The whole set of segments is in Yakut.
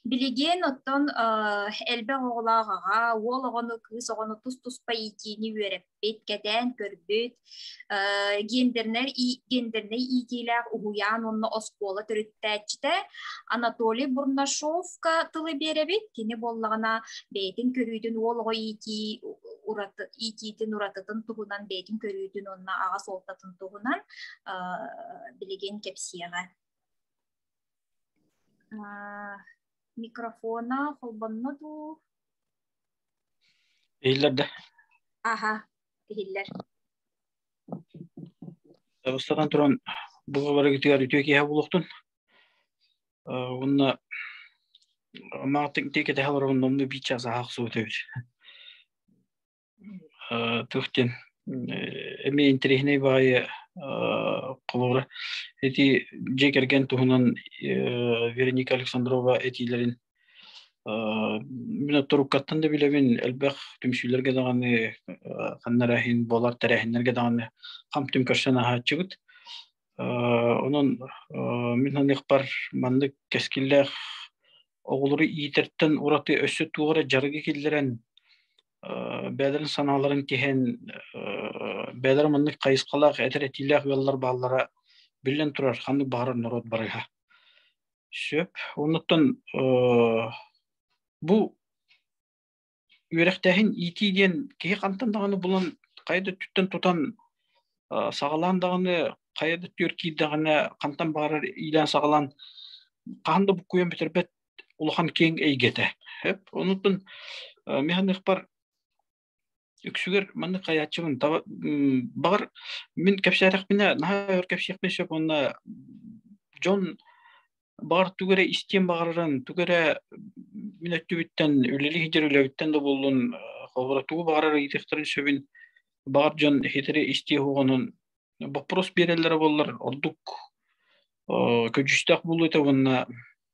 Билигин оттон элбэх оҕолоох аҕа, уол оҕону, кыыс оҕону тус-туспа иитиини үөрэппит, кэтээн көрбүт, гендернэр гендернэй иитиилээх уһуйаан уонна оскуола төрүттээччитэ Анатолий Бурнашовка тылы биэрэбит. Кини буоллаҕына бэйэтин көрүүтүн уол оҕо иитии ураты иитиитин уратытын туһунан бэйэтин көрүүтүн уонна аҕа суолтатын туһунан билигин кэпсиэҕэ. микрофона холбонно дуу иһиллэрдэ аха иһиллэр бастатан туран бу барыгытыгар үтүө киэһэ булуохтун уонна маатык тиэкэтэһэ олорон номну биир час аһахсыбыт эбит тух диэн эми интириэһинэй баайы холура эти дьиэ кэргэн туһунан Вероника Александрова этиилэрин Мин туруккаттан да билебин элбэх түмсүүлэрге даҕаны ханнара иһин буолар тэрээһиннерге даҕаны хамтым көрсөн аһааччыбыт онон мин ханыахпар маннык кэскиллээх оҕолору иитэртэн ураты өссө туора жарыгы киллэрэн бэдер санааларын киһен бэдер маннык хайысқалаах этер этилэх ыаллар бааллара биллен турар ханнык баарар норуот барыга сөп оннуттан бу үөрэхтээһин иити диэн киһи хантан даҕаны булан хайа да түттэн тутан саҕалаан даҕаны хайа да түөр киирдэҕинэ хантан баарар иилээн саҕалаан хаһан да буккуйан бүтэрбэт улахан киэҥ эйгэтэ. Онутун механыхпар үксүгэр маннык хайааччыбын таба баҕар мин кэпсээтэхпинэ наһаа өр кэпсиэхпин сөп онно дьон баҕар тугу эрэ истиэн баҕарарын тугу эрэ мин өттүбүттэн үлэлии сылдьар үлэбиттэн да буоллун холобура тугу баҕарар ыйытыахтарын сөбүн баҕар дьон хитири истиэ уоҕунун боппурус биэрэллэрэ буоллар ордук көдьүүстээх буолуо этэ уонна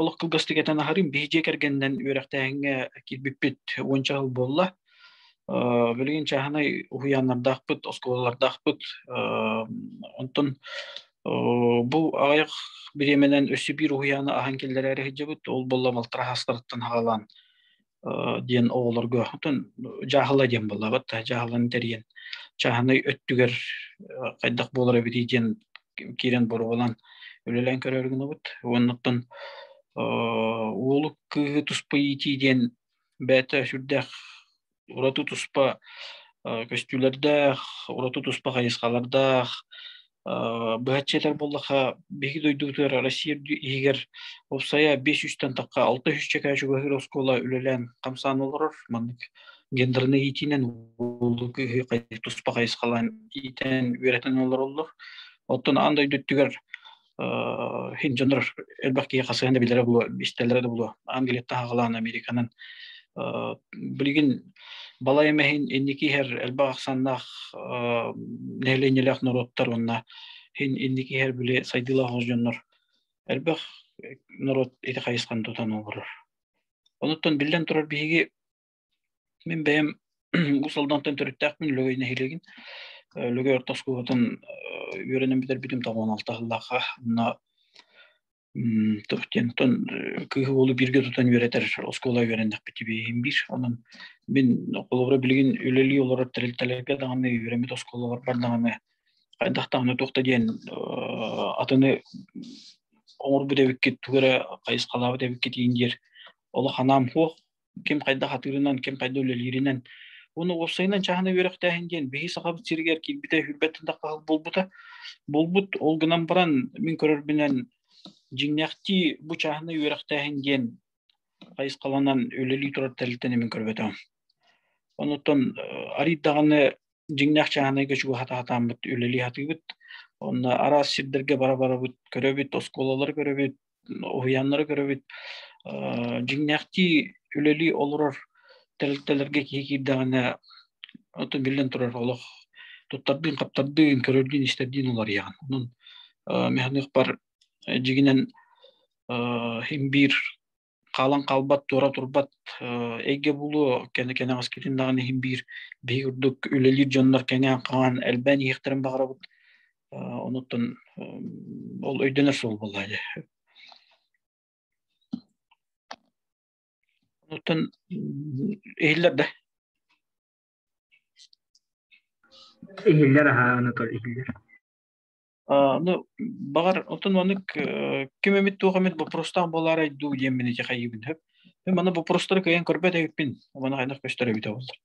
олох кылгастык этэн аһарым биһи дьиэ кэргэнинэн үөрэхтээһиҥҥэ киирбиппит уонча сыл буолла билигин чааһынай уһуйааннардаахпыт оскуолалардаахпыт онтон бу аҕыйах бириэмэнэн өссө биир уһуйааны аһан киллэрээри сылдьабыт ол болла балтараа саастарыттан саҕалаан диэн оҕолорго дьааһыла диэн буоллабат дьааһыланы тэрийэн чааһынай өттүгэр хайдах буолар эбитий диэн киирэн боруолан үлэлээн көрөргүнубут уоннаттан уолу кыыһы туспа иитии диэн бэйэтэ сүрдээх ураты туспа көстүүлэрдээх ураты туспа хайысхалардаах быһаччы этэр буоллаха биһиги дойдубутугар Россия иһигэр уопсайа бес үстэн тахха алта үс чэкээ чугаһыыр оскуола үлэлээн хамсаан олорор маннык гендерный иитиинэн улуу киһи туспа хайысхалаан иитэн үөрэтэн олороллор оттон аан дойду өттүгэр хин дьонор элбэх киһи хасыһан да билэрэ булуо истэллэрэ да булуо аан келет таһаҕалаан американан билигин Балайым эһин инники иһэр элбэх ахсаннаах нэһилиэнньэлээх норуоттар уонна һин инники иһэр били сайдыылаах ол дьоннор элбэх норуот ити хайысхан тутан олорор. Онуттан биллэн турар биһиги мин бэйэм Уус Алдантан төрүттээхпин Лөгөй нэһилиэгин Лөгөй орто оскуолатын үөрэнэн бүтэр бүтүм тоҕуон алтаһыллаахха уонна М, то диэн оттон, э, кыыһы уолу бииргэ тутан үөрэтэр оскуола үөрэннэхпит дибиэһин биир. Онон мин холобура билигин үлэлии олорор тэрилтэлэргэ даҕаны үөрэммит оскуолалар бар даҕаны хайдах даҕаны туох да диэн э, атыны оҥорбут эбиккит, тугу эрэ хайысхалаабыт эбиккит иин диэр олох анаам суох. ким хайдах атыырынан, ким хайда үлэлииринэн. Уну уопсайынан чаһына үөрэхтээһин диэн биһи сахабыт сиригэр киирбитэ үрбэттэн таххал булбута. Булбут ол гынан баран мин көрөрбүнэн дьиҥнэхтии бу чаһына үөрэхтээһин диэн хайысхаланан үлэлии турар тэрилтэн мин көрбөтөм. Онуттан арыйдаҕаны дьиҥнээх чааһынайга чугаһата хатааммыт үлэлии хатыыбыт. Онна араас сирдерге бара барабыт, көрөбүт, оскуолалары көрөбүт, уһуйааннары көрөбүт дьиҥнээхтии үлэлии олорор тэрилтэлэргэ киһи киирдэҕинэ оту биллэн турар олох туттардыын хаптардыын көрөрдүүн истэрдиин уларыйаҕын онон механыхпар дьигинэн химбиир хаалан хаалбат туора турбат эйгэ булуо кэне кэнэҕэс китин даҕаны химбиир биһиги курдук үлэлиир дьоннор кэҥээн хаҥаан элбээн иһиэхтэрин баҕарабыт Онуттан ол өйдөнөр суол буолла дьэ. Онуттан иһиллэр да. Иһиллэр аһа Анатоль иһиллэр. ну бағар отын манык ким эмит туох эмит бопростаах болаары айдуу диэн мин ити хайыбын хөп мана бопростары кыйан көрбөт эбиппин мана хайдах көстөр эбитэ боллар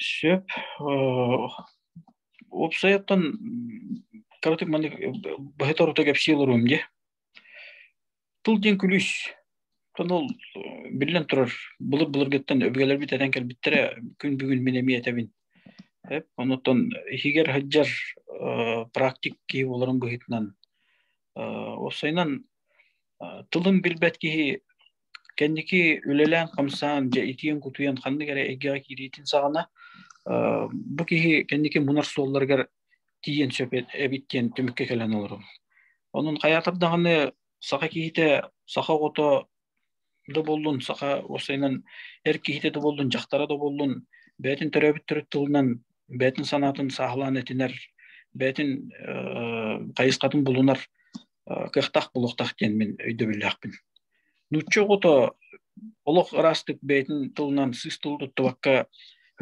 Сөп. Э, уопсайыттан кыратык маннык быһыта орута кэпсии олоруом дии. Тыл диэн күлүүс. Оттон ол биллэн турар былыр-былыргыттан өбүгэлэрбит этэн кэлбиттэрэ күн бүгүн мин эмиэ этэбин. Эп, онуттан иһигэр сылдьар э, практик киһи буоларым быһыытынан э, уопсайынан тылын билбэт киһи Кэнники үлэлээн-хамсаан, дьэ итиэн-кутуйан ханнык эрэ эйгэҕэ киириитин саҕана бу киһи кэнники мунар суолларыгар тиийэн сөп эбит диэн түмүккэ кэлэн олорум. Онон хайаатар даҕаны саха киһитэ, саха оҕото да боллун, саха уопсайынан эр киһитэ да боллун, дьахтара да боллун, бэйэтин төрөөбүт төрүт тылынан бэйэтин санаатын сааһылаан этинэр, бэйэтин хайысхатын булунар кыахтаах булуохтаах диэн мин өйдөбүллээхпин. Нуучча оҕото олох ыраастык бэйэтин тылынан сыс тыл туттубакка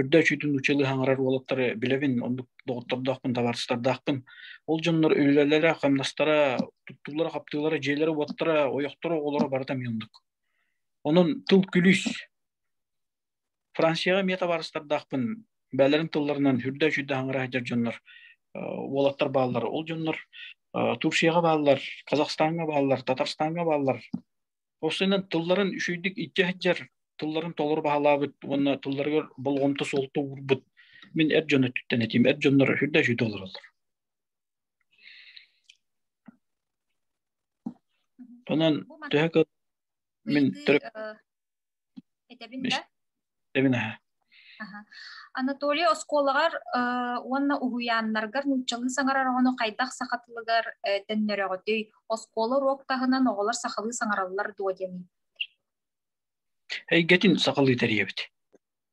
үрдэ үчүйтүн нууччалыы хаҥырар уолаттары билэбин, оннук доҕоттордоохпун, табаарыстардаахпын. Ол дьоннор үлэлэрэ, хамнастара, туттуулара, хаптыылара, дьиэлэрэ, уоттара, ойохторо, оҕолоро барыта мин оннук. Онон тыл күлүүс, Францияҕа эмиэ табаарыстардаахпын бэйэлэрин тылларынан үрдэ үчүйдэ хаҥыра сылдьар дьоннор уолаттар бааллар ол дьоннор Турцияҕа бааллар, Казахстаҥҥа бааллар, Татарстаҥҥа бааллар. Осынан тылларын үчүйдүк иччэ сылдьар тылларын толору баһылаабыт уонна тылларыгар болҕомто суолта уурбут. Мин эр дьон өттүттэн этим, эр дьоннор үрдэ үчүйдэ олороллор. Онон төһө мин Этэбин да? Эбин Анатолий оскуолаҕар уонна уһуйааннаргар нууччалыы саҥарар оҕону хайдах саха тылыгар төннөрөҕүтүй? Оскуола уруок таһынан оҕолор сахалыы саҥараллар дуо диэн эйгэтин сахалыы тэрийэбит.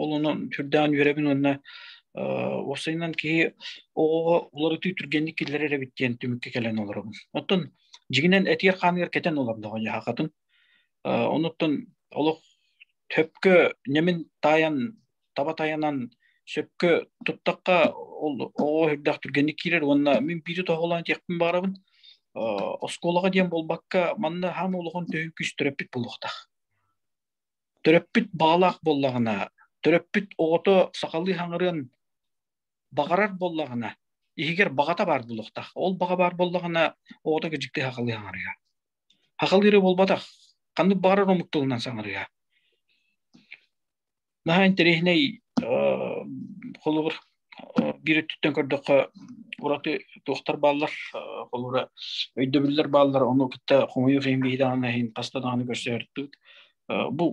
Ол онон сүрдээн үөрэбин уонна уопсайынан киһи оҕоҕо уларытыы түргэнник киллэрэр эбит диэн түмүккэ кэлэн олоробун. Оттон дьиҥинэн этигэр-хааныгар кэтэн олордоҕо дьаһахатын. Онуттан олох сөпкө нэмин таайан таба тайанан сөпкө туттахха ол оҕо үрдэх түргэнник киирэр уонна мин биирдэ тоһолоон диэхпин баҕарабын оскуолаҕа диэн буолбакка манна хаама олоҕун төһүү күүстөрөппүт буолуохтаах Төрөппүт баҕалаах буоллаҕына, төрөппүт оҕото сахалыы хаҥырыан баҕарар буоллаҕына, иһигэр баҕата баар буолуохтаах. Ол баҕа баар буоллаҕына, оҕото кэдьикти сахалыы хаҥарыа. Сахалыы буолбатах. Ханнык баҕарар омук тылынан саҥарыа. Наһаа интэриэһинэй холобур биир өттүттэн көрдөххө ураты туохтар бааллар холура өйдөбүллэр бааллар ону кытта хомойуох иһин биһидаҕаны иһин хаста даҕаны көрсөөртүк бу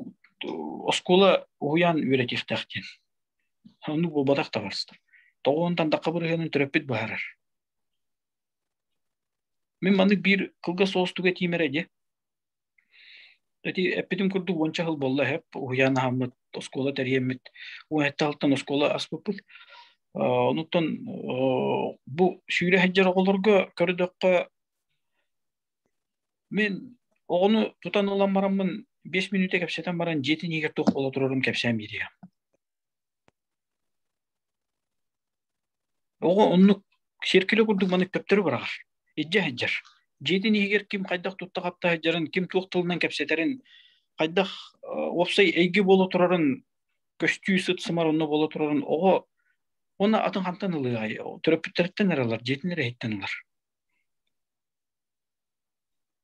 оскуола уһуйаан үөрэтиэхтээх диэн оннук буолбатах табарыстар тоҕоонтан дакка бырыһыанын төрөппүт быһаарар мин маннык биир кылгас уостуга тиимэрэ дьэ Эти эппитим курдук уонча сыл буолла эһэп уһуйаан аһаммыт, оскуола тэрийэммит. Уонча сылтан оскуола аспыппыт. Онуттан бу сүүрэ сылдьар оҕолорго көрдөххө мен оҕону тутан ылан бараммын биэс мүнүүтэ кэпсэтэн баран дьиэтин иһигэр туох буола турарын кэпсээн биэриэм. Оҕо оннук сиэркилэ курдук маныктэптөрү быраҕар. Илдьэ сылдьар. Дьиэтин иһигэр ким хайдах тутта-хапта сылдьарын, ким туох тылынан кэпсэтэрин, хайдах уопсай эйгэ буола турарын көстүү сыт-сымар онно буола турарын оҕо уонна атын хантан ылыаҕай? Төрөппүттэриттэн эрэ ылар, дьиэтин эрэ иһиттэн ылар.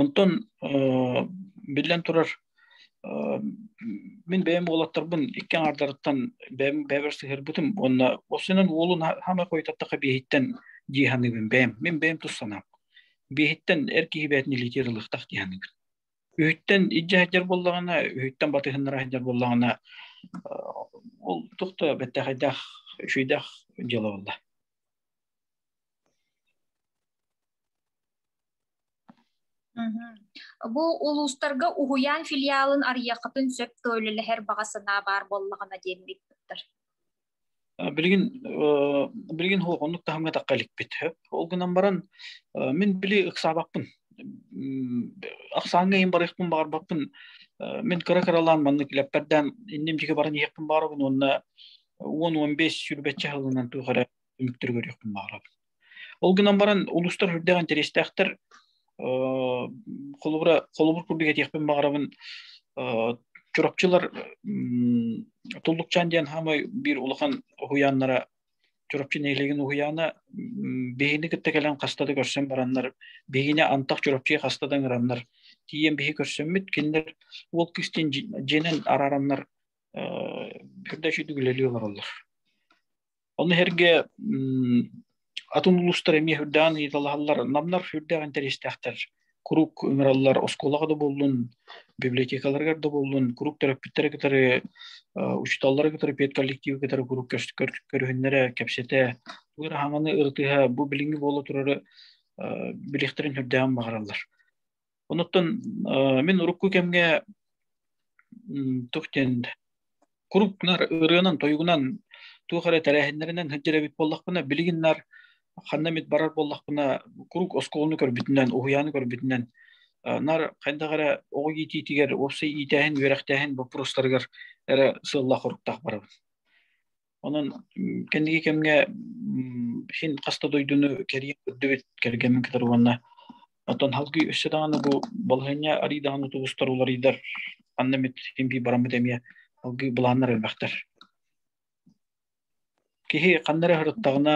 Онтон биллэн турар, мин бэйэм уолаттарбын икки аҥаардарыттан бэйэм бэйэбэр сыһыарбытым уонна ол сынан уолун хаамай хойутаттахха биэһиттэн дии саныыбын бэйэм. Мин бэйэм тус санаам. Биэһиттэн эр киһи бэйэтин илиитигэр ылыахтаах дии саныыбын. Үһүттэн илдьэ сылдьар буоллаҕына, үһүттэн батыһыннара сылдьар буоллаҕына, ол туох да бэттээхэйдээх, үчүгэйдээх дьыала буолла. Бу улуустарга уһуйаан филиалын арыйахытын сөп төлөлөһөр баҕа санаа баар буоллаҕына диэн ыйыппыттар. Билигин билигин оннук таһымга тахха иликпит. Ол гынан баран мин били ыксаабаппын. Ыксааҥҥа иһин барыахпын баҕарбаппын. Мин кыра кыралаан маннык илэппэрдээн инним дьигэ баран иһиэхпин баарабын уонна уон уон бес сүүрбэччэ сылынан туох эрэ үмүттэр көрүөхпүн баҕарабын. Ол гынан баран улустар үрдээх интэриэстээхтэр холобура холобур курдук этиэхпин баҕарабын Чурапчылар Туллукчаан диэн хаамай биир улахан уһуйааннара Чурапчы нэһилиэгин уһуйаана биһини кытта кэлэн хаста да көрсөн бараннар, биһине антах Чурапчы хаста да ыҥыраннар, тиийэн биһи көрсөммүт, кинилэр Уол Кистин дьиэнэн араараннар үрдэ сүдүгүлэлии олороллор. Ол иһэргэ атын улуустар эмиэ үрдэҕин ыйыталаһаллар, намнар үрдэҕин интэриэстээхтэр. Куруук ыҥыраллар оскуолаҕа да буоллун, библиотекаларыгар да буоллун, куруук төрөппүттэри кытары, учууталлары кытары, педколлективы кытары куруук көрүһүннэрэ, кэпсэтэ, тугу эрэ хааманы ырытыһа, бу билиҥҥи буола турары билиэхтэрин үрдэҕин баҕараллар. Онуттан мин урукку кэмгэ тух диэн курупнар ырыанан тойугунан туох эрэ тэрээһиннэринэн сылдьар буоллахпына билигин нар ханна эмит барар буоллахпына курук оскуоланы көрбүтүнэн уһуйааны көрбүтүнэн нар хайдах эрэ оҕо иитиитигэр уопсай иитээһин үөрэхтээһин боппуруостарыгар эрэ сыаллаах-соруктаах барабын Онон кэнники кэмҥэ син хаста дойдуну кэрийэн көрдүбүт кэргэммин кытары уонна оттон халгыы өссө даҕаны бу балаһыанньа арий даҕаны тубустар уларыйдар анна мит син бии бараммыт эмиэ алгыы былааннар элбэхтэр киһи ханна эрэ сырыттаҕына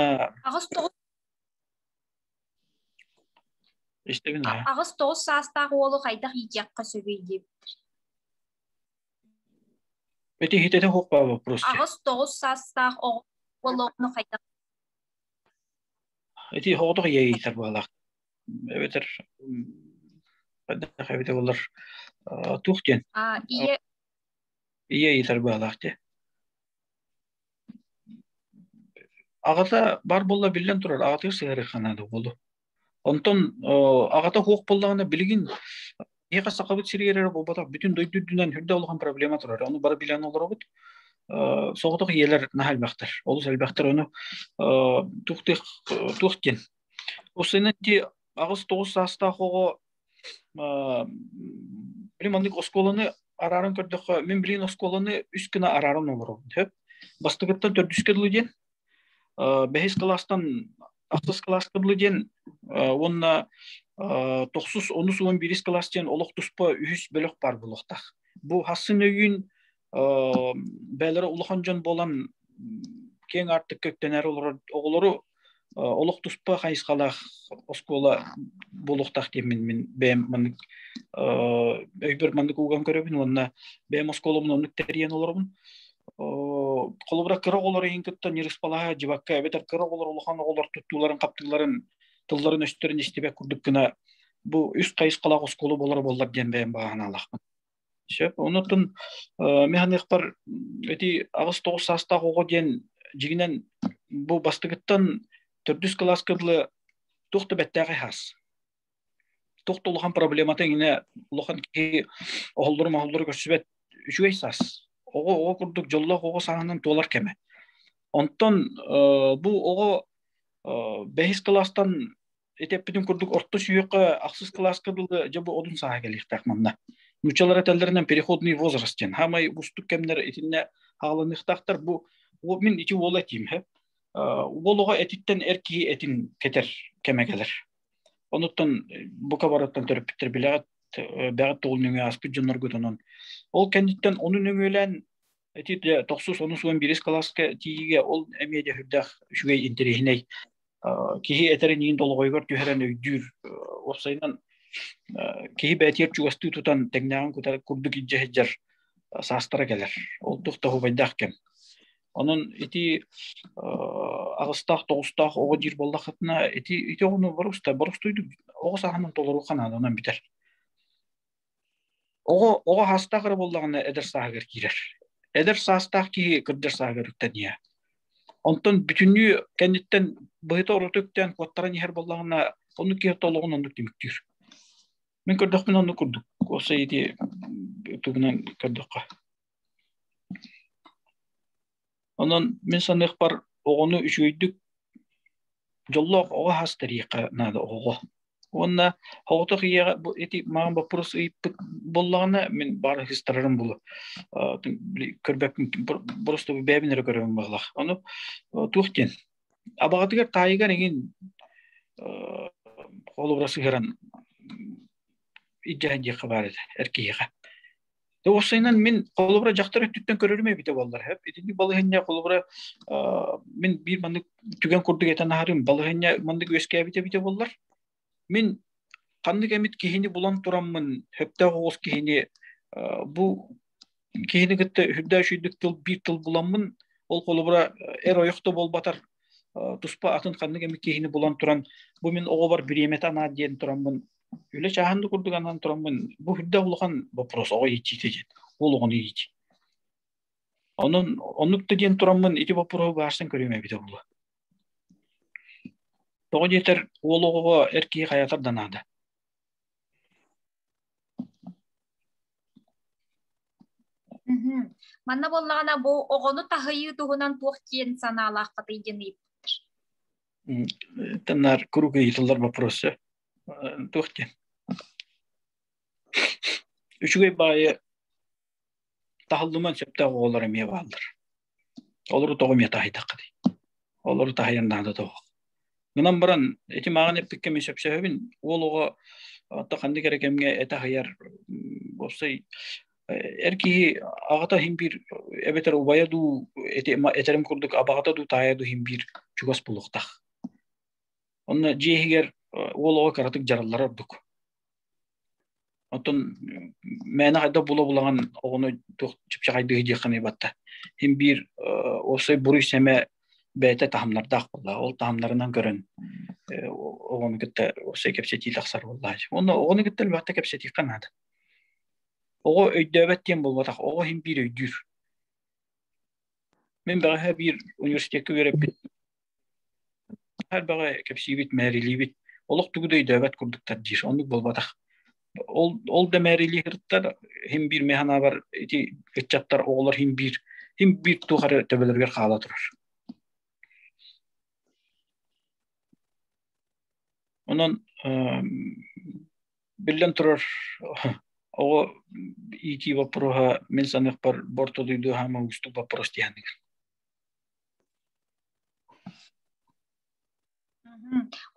аҕыс тоҕус истэбин аҕыс тоҕус саастаах уолу хайдах иитиэххэ сөбүй диэбиттэр Этиһитэтэ суох баа боппуруосче. Аҕыс тоҕус саастаах оҕо болоону хайдах Эти хоҕотох иэйиитэр баалаах. Эбэтэр хайдах эбитэ болар туох диэн? А ийэ иэйиитэр баалаах те. Аҕата бар болла биллэн турар аҕатыгар сыһарыхана да болу. Онтон аҕата хуох боллаҕына билигин миэхэ сахабыт сиригэр эрэ буолбатах бүтүн дойду үрдүнэн үрдэ улахан проблема турар ону бары билэн олоробут соҕотох ийэлэр наһаа элбэхтэр олус элбэхтэр ону туох диэх туох диэн усынан ти аҕыс тоҕус саастаах оҕо блин маннык оскуоланы арааран көрдөххө мин билин оскуоланы үс гына арааран олоробун сөп бастыгыттан төрдүскэ дылы диэн бэһис кылаастан ахтыс кылааскабылы диэн уонна тохсус онус уон бирис кылаас диэн олох туспа үһүс бөлөх бар булуохтах бу хассын өйүн бээлere улахан дьон болан кең артык көктөнөр оголору олох туспа хайысхалаах оскуола болуохтах диэмин мин бэйэм маннык өйбөр маннык уган көрөбүн уонна бэйэм оскуоламын оннук тэрийэн олоробун холобура кыра оҕолор иһин кытта ньырыспалаһа дьыбакка эбэтэр кыра оҕолор улахан оҕолор туттууларын хаптыыларын тылларын өстөрүн истибэт курдук гына бу үс хайысхалаах оскуола буолара буоллар диэн бэйэм бааһынаалаахпын сөп онутун механыктар эти аҕыс тоҕус саастаах оҕо диэн дьигинэн бу бастыгыттан төрдүс кылааска дылы туох да бэттээхи хаас Тохт улахан проблемата иҥине улахан киһи оһоллору-моһоллору көрсүбэт үчүгэй сас. Оҕо оҕо курдук дьоллоох оҕо сааһынан туолар кэмэ. Онтон бу оҕо бэһис кылаастан итеппитин курдук орто сүйүөххэ ахсыс кылааска дылы дьабы одун сааһа келиэхтээх манна. Нучалара тэллэринен переходный возраст диэн. Хамай бустук кэмнер итинне хааланыахтаахтар бу мин ити уола тиим хэ. Уолуга этиттен эр киһи этин кетер кеме келер. Онуттан бука барыттан төрөппүттэр билэҕит бэҕит тугул нөҥүө ааспыт дьонноргутунан. Ол кэнниттэн ону нөҥүөлээн эти тохсус онус уон биирис кылааска тиийигэ ол эмиэ дэ үрдэх үчүгэй интэриэһинэй киһи этэрин иин долоҕойгор түһэрэн өйдүүр уопсайынан киһи бээтиэр чугастыы тутан тэҥнээҕин кутар курдук илдьэ саастара кэлэр ол тух таһубайдаах кэм Онон ити аҕыстаах тоҕустаах оҕо диир буоллаххытына ити ити оҕону боростой боростойдук оҕо сааһынан толору ханаанынан бүтэр. Оҕо оҕо хаастаах эрэ буоллаҕына эдэр сааһыгар киирэр. Эдэр саастаах киһи кырдьар сааһыгар үктэниэ. Онтон бүтүннүү кэнниттэн быһыта орото үктээн куоттаран иһэр буоллаҕына онну киһи толоҕун оннук түмүктүүр. Мин көрдөхпүнэ онну курдук. Осы ити тугунан көрдөххө. Онон мин саныахпар оҕону үчүгэйдик дьоллоох оҕо хас тэриэххэ наада оҕоҕо. Уонна оҕото ийэҕэ бу эти маған боппурус ыйыппыт боллаҕына мин баара хистарарым булу көрбөппүн просто бэйэбин эрэ көрөмүн баалах. Ону туох диэн абаҕатыгар таайыгар эҥин холобура сыһыран иддиэхэ диэххэ баар этэ эр киһиэхэ Да уссайынан мин холобура дьахтар өттүттэн көрөрүм эбитэ буоллар хэп итинник балаһынньа холобура мин биир маннык түгэн курдук этэн аһарым балаһынньа маннык үөскээбит эбитэ буоллар мин ханнык эмит киһини булан тураммын хөптөөх оҕус киһини бу киһини кытта үрдээш үрдүк тыл биир тыл буламмын ол холобура эр ойохто буолбатар туспа атын ханнык эмит киһини булан туран бу мин оҕобор бириэмэтэ анаат диэн тураммын Үлэ чаһан да курдук анан тураммын бу үрдэ улахан вопрос оҕо иччиите ден. Ол оҕону ичи. Онон оннукта диэн тураммын ити вопроһу баарсын көрүөм эбит олула. Тоҕо диэтэр уол оҕоҕо эр киһи хайатар да наада. Манна боллагана бу оҕону таһыйыы туһунан туох киэн санаалаах катый диэн ыйыппыт. Таннар круг ыйытылар вопросы. туох диэн үчүгэй баайы таһыллыман сөптөөх оҕолор эмиэ бааллар олору тоҕо эмиэ таһыйтахха дей олору таһыйан наада тоҕо гынан баран ити мааҕын эппиккэ мен сөпсөһөбүн уол оҕо отто ханнык эрэ кэмҥэ этэ аһыйар уопсай эр киһи аҕата иһин биир эбэтэр убайа дуу этерим курдук абаҕата дуу таайа дуу иһин биир чугас булуктах Онно дьиэ иһигэр уол оҕо кыратык дьараллара ордук. Оттон мээнэ хайда була-булаҕан оҕону туох чыпчаҕайдыы диэххиний батта. Хин биир уопсай буруй сэмэ бэйэтэ таһымнардаах буолла. Ол таһымнарынан көрөн оҕону кытта уопсай кэпсэтии тахсар буолла. Уонна оҕону кытта элбэхтэ кэпсэтиэххэ наада. Оҕо өйдөөбөт диэн буолбатах. Оҕо хин биир өйдүүр. Мин бэҕэһээ биир университетка үөрэппит Хайдаҕа кэпсиибит, мээрилиибит олох тугу да өйдөөбөт курдуктар диир. Оннук буолбатах. Ол ол да мээрилии сырыттар хин биир механабар ити ыччаттар оҕолор хин биир хин биир туох эрэ төбөлөрүгэр хаала турар. Онон биллэн турар оҕо иитии боппуруоһа мин саныахпар бортодуйду хаама уустук боппуруос диһаныгын.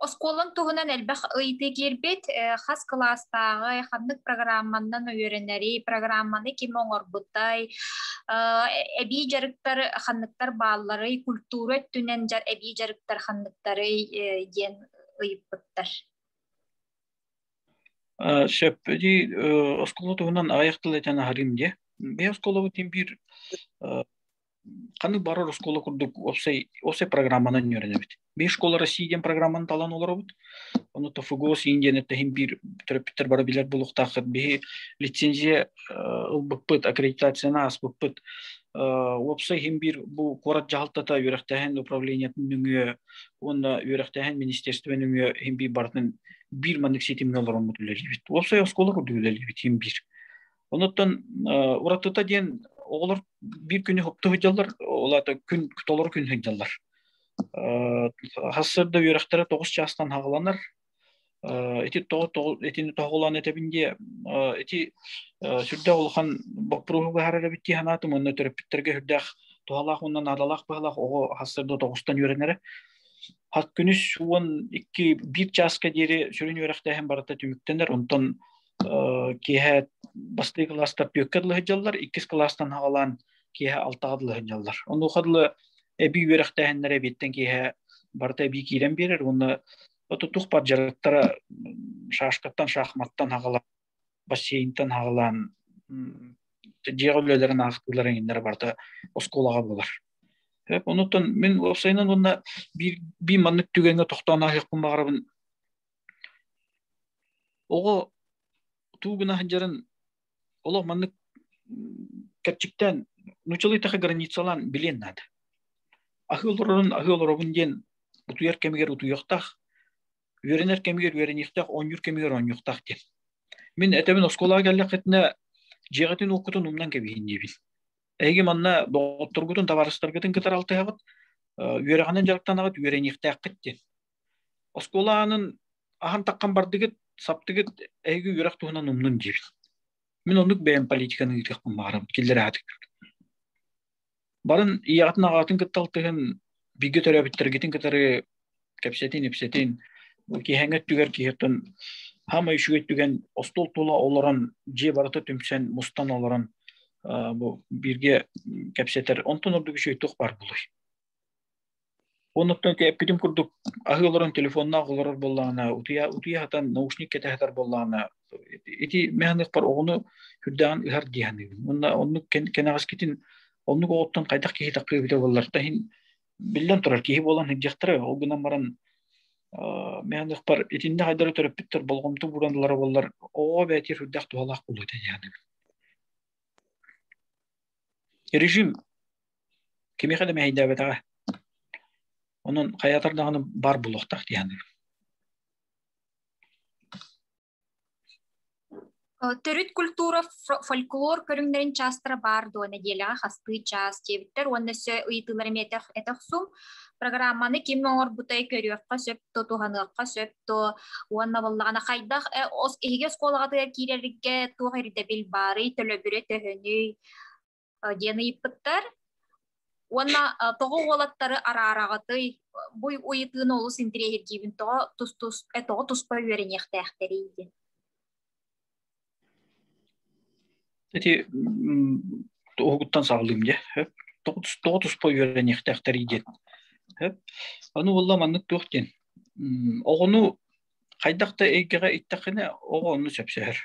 Оскуолаҥ туһунан элбэх ыйытыы киирбит. Хас кылаастааҕый, ханнык программаннан үөрэнэри, программаны ким оҥорбутай, эбии дьарыктар ханныктар баалларый, культура өттүнэн эбии дьарыктар ханныктарый диэн ыйыппыттар. Сөп. Оскуола туһунан аҕыйах тыл этэн аһарыым дии. Бэйэ оскуолабытын биир ханнык барар оскуола курдук уопсай уопсай программанан үөрэнэбит. Биир школа России диэн программаны талан олоробут. Ону ТФГОС Индияны тэһин биир төрөппүттэр бары билэр булуохтаахтар. Биһи лицензия ылбыппыт, аккредитацияны аспыппыт. Уопсай хин биир бу куорат дьаһалтата үөрэхтээһин управлениетын нөҥүө уонна үөрэхтээһин министерствен нөҥүө хин биир барытын биир маннык ситимҥэ олороммут үлэлиибит. Уопсай оскуола курдук үлэлиибит хин биир. Онуттан уратыта диэн оҕолор биир күнү хопто сылдьаллар, ол аата күн толору күн сылдьаллар. Хассарда үөрэхтэрэ тоҕус чаастан хаҕыланар. Ити итини тоһоҕолоон этэбин диэ ити сүрдээх улахан боппуруоһу быһаарар эбит дии санаатым уонна төрөппүттэргэ үрдээх туһалаах уонна наадалаах быһалаах оҕо хассарда тоҕустан үөрэнэрэ. Хат күнүс уон икки биир чааска диэри сүрүн үөрэхтээһин барыта түмүктэнэр. Онтон киэһэ бастыы кылаастар түөккэ дылы сыллар иккис кылаастан хаалаан киэһэ алтаҕа дылы сынньаллар онуха дылы эбии үөрэхтээһиннэрэ эбиэттэн киэһэ барыта эбии киирэн биэрэр уонна тутух-бар дьарыктара шашкаттан шахматтан хагалаан бассейнтан хагалаан дьиэҕэ үлэлэрин аахтыылар эҥиннэрэ барыта оскуолаҕа булар онуттан мин уопсайынан уонна биир би маннык түгэҥҥэ тохтоон аһыахпын баҕарабын Оҕо туу гына сылдьарын олох маннык кэрчиктээн нуучалыйтаха границалаан билиэн наада. Аһы олорорун аһы олоробун диэн утуйар кэмигэр утуйуохтаах, үөрэнэр кэмигэр үөрэниэхтээх, оонньуур кэмигэр оонньуохтаах диэн. Мин этэбин оскуолаҕа кэллэххитинэ дьиэҕитин уоккутун умнан кэбиһин диэбин. Эһиги манна доҕотторгутун, табаарыстаргытын кытары алтыһаҕыт, үөрэҕинэн дьарыктанаҕыт, үөрэниэхтээххит диэн. Оскуола аанын ахан таккан бардыгыт, саптыгыт эһиги үөрэх туһунан умнун диир. Мин оннук бэйэм политиканы ыытыахпын баарам киллэрээтик. Барын ийэҕитин аҕатын кытта алтыһын бигэ төрөөбүттэргитин кытары кэпсэтин ипсэтин киһэҥ өттүгэр киһиттэн хаама үчүгэй түгэн остуол тула олорон дьиэ барыта түмсэн мустан олорон бу бииргэ кэпсэтэр онтон ордук үчүгэй туох баар булуй Оннуктан эппитим курдук, аһы олорон телефоннаах олорор буоллаҕына, утуйа утуйа сатан наушник кэтэ сатар буоллаҕына, ити механизмпар оҕону үрдэҕин ыһар дии саныыбын. Онно оннук кэнэҕэскитин оннук оҕоттон хайдах киһи таххыы эбитэ буоллар да иһин биллэн турар киһи буолан сылдьыахтара ол гынан баран механизмпар итиннэ хайдары төрөппүттэр болҕомто ууран ылара буоллар оҕоҕо бээтиэр үрдэх туһалаах буолуо этэ диэн режим Кимиэхэ да мэһэйдээбэтэҕэ. Онон хайатар даҕаны бар булуохтаах диһаны. Төрүт культура фольклор көрүҥнэрин чаастара баар дуо нэдиэлэҕэ хастыы чаас диэбиттэр уонна өссө ыйытыылар эмиэ этэх сум программаны ким оҥорбутай көрүөххэ сөп то туһаныахха сөп то уонна боллаҕана хайдах иһиги оскуолаҕытыгар киирэргэ туох ирдэбил баарый төлөбүрэ төһөнүй диэн ыйыппыттар. Уонна тоҕо уолаттары араараҕытый, буй уйытыыны олус интириэһиргиибин тоҕо тус-тус, тоҕо туспа үөрэниэхтээхтэрий диэн. Эти тоһугуттан саалыым дьэ. Тоҕо туспа үөрэниэхтээхтэрий диэн. Аны уолла маннык туох диэн. Оҕону хайдах да эйгэҕэ иттэххинэ оҕо онну сөпсөһөр.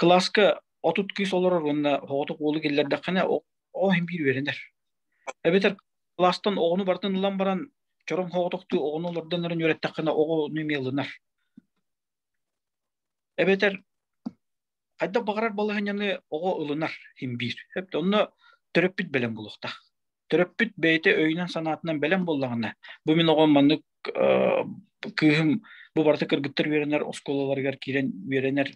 кылааска отут кыыс олорор уонна оҕотук уолу киллэрдэххинэ оҕо иһин биир үөрэнэр. Эбэтэр кылаастан оҕону барытын ылан баран чороҥ оҕотоктуу оҕону олордон эрэн үөрэттэххинэ оҕону эмиэ ылынар. Эбэтэр хайдах баҕарар балаһыанньаны оҕо ылынар иһин биир. Эбэтэр онно төрөппүт бэлэм булуохтаах. Төрөппүт бэйэтэ өйүнэн-санаатынан бэлэм буоллаҕына, бу мин оҕом маннык кыыһым бу барыта кыргыттар үөрэнэр оскуолаларыгар киирэн үөрэнэр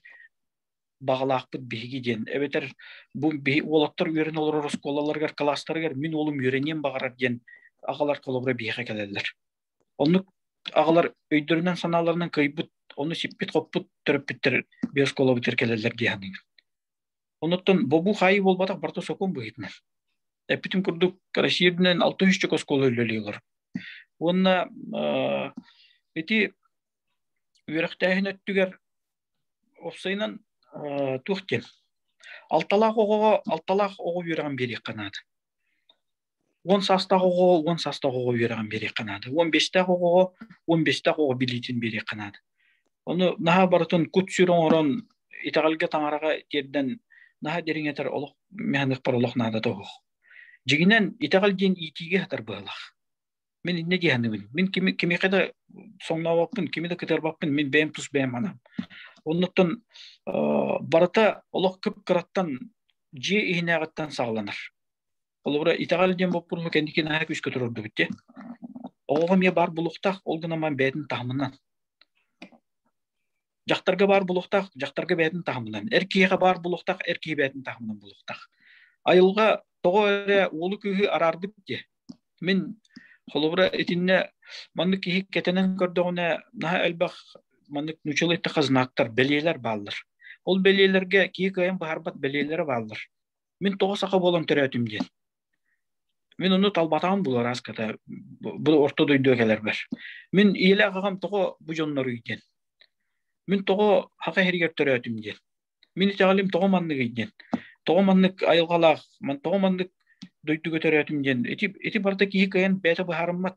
баҕалаахпыт биһиги диэн. Эбэтэр бу уолаттар үөрэнэ олорор оскуолаларыгар, кылаастарыгар мин уолум үөрэниэн баҕарар диэн аҕалар холобура биһиэхэ кэлэллэр. Оннук аҕалар өйдөрүнэн, санааларынан кыйбыт, ону сиппит-хоппут төрөппүттэр биоскуолабытыгар кэлэллэр дии саныыбын. Онуттан бобуу хаайыы буолбатах барта сокуон быһыытынан. Эппитим курдук, Россиядынан 600 оскуола үлэлиилэр. Уонна ити үөрэхтээһин өттүгэр офсайынан туох диэн алталаах оҕоҕо алталаах оҕо үөрэҕин биэриэххэ наада. он састаах оҕоҕо он састаах оҕоҕо үөрэҕин биэриэххэ наада он бэстээх оҕоҕо он бэстээх оҕоҕо билиитин биэриэххэ наада ону наһаа барытын кут сүр оҥорон итэҕэлгэ таҥараҕа тиэрдэн наһаа дириҥэтэр олох механикпар олох наадата уһух дьигинэн итэҕэл диэн иитиигэ хатар быһалах мин иннэ дии саныыбын мин кими кимиэхэ да соҥнообоппун кими да кытарбаппын мин бэйэм тус бэйэм анам оннуттан барыта олох кып кыраттан дьиэ иһинээҕиттэн саҕаланар Холобура, итэҕэл диэн боппуруһу кэнники наһаа күүскэ турордубут те. Оҕоҕо эмиэ баар булуохтаах, ол гынан ман бэйэтин таһымынан. Дьахтарга баар булуохтаах, дьахтарга бэйэтин таһымынан. Эр киһиэхэ баар булуохтаах, эр киһи бэйэтин таһымынан булуохтаах. Айылҕа тоҕо эрэ уолу күүһү араарбыт диэ. Мин холобура итиннэ маннык киһи кэтэнэн көрдөҕүнэ наһаа элбэх маннык нучелыйта хазнактар бэлиэлэр бааллар. Ол бэлиэлэргэ киһи кыайан быһарбат бэлиэлэрэ бааллар. Мин тоҕо саха буолан төрөөтүм диэн. Мин ону талбатаҕым булар аската бу орто дойду кэлэрбэр. Мин ийэлээх аҕам тоҕо бу дьонноруй диэн. Мин тоҕо хака иһэригэр төрөөтүм диэн. Мин итэҕэлим тоҕо манныгый диэн. Тоҕо маннык айылҕалаах, тоҕо маннык дойдуга төрөөтүм диэн. Ити ити барыта киһи кыайан бэйэтэ быһаарыммат.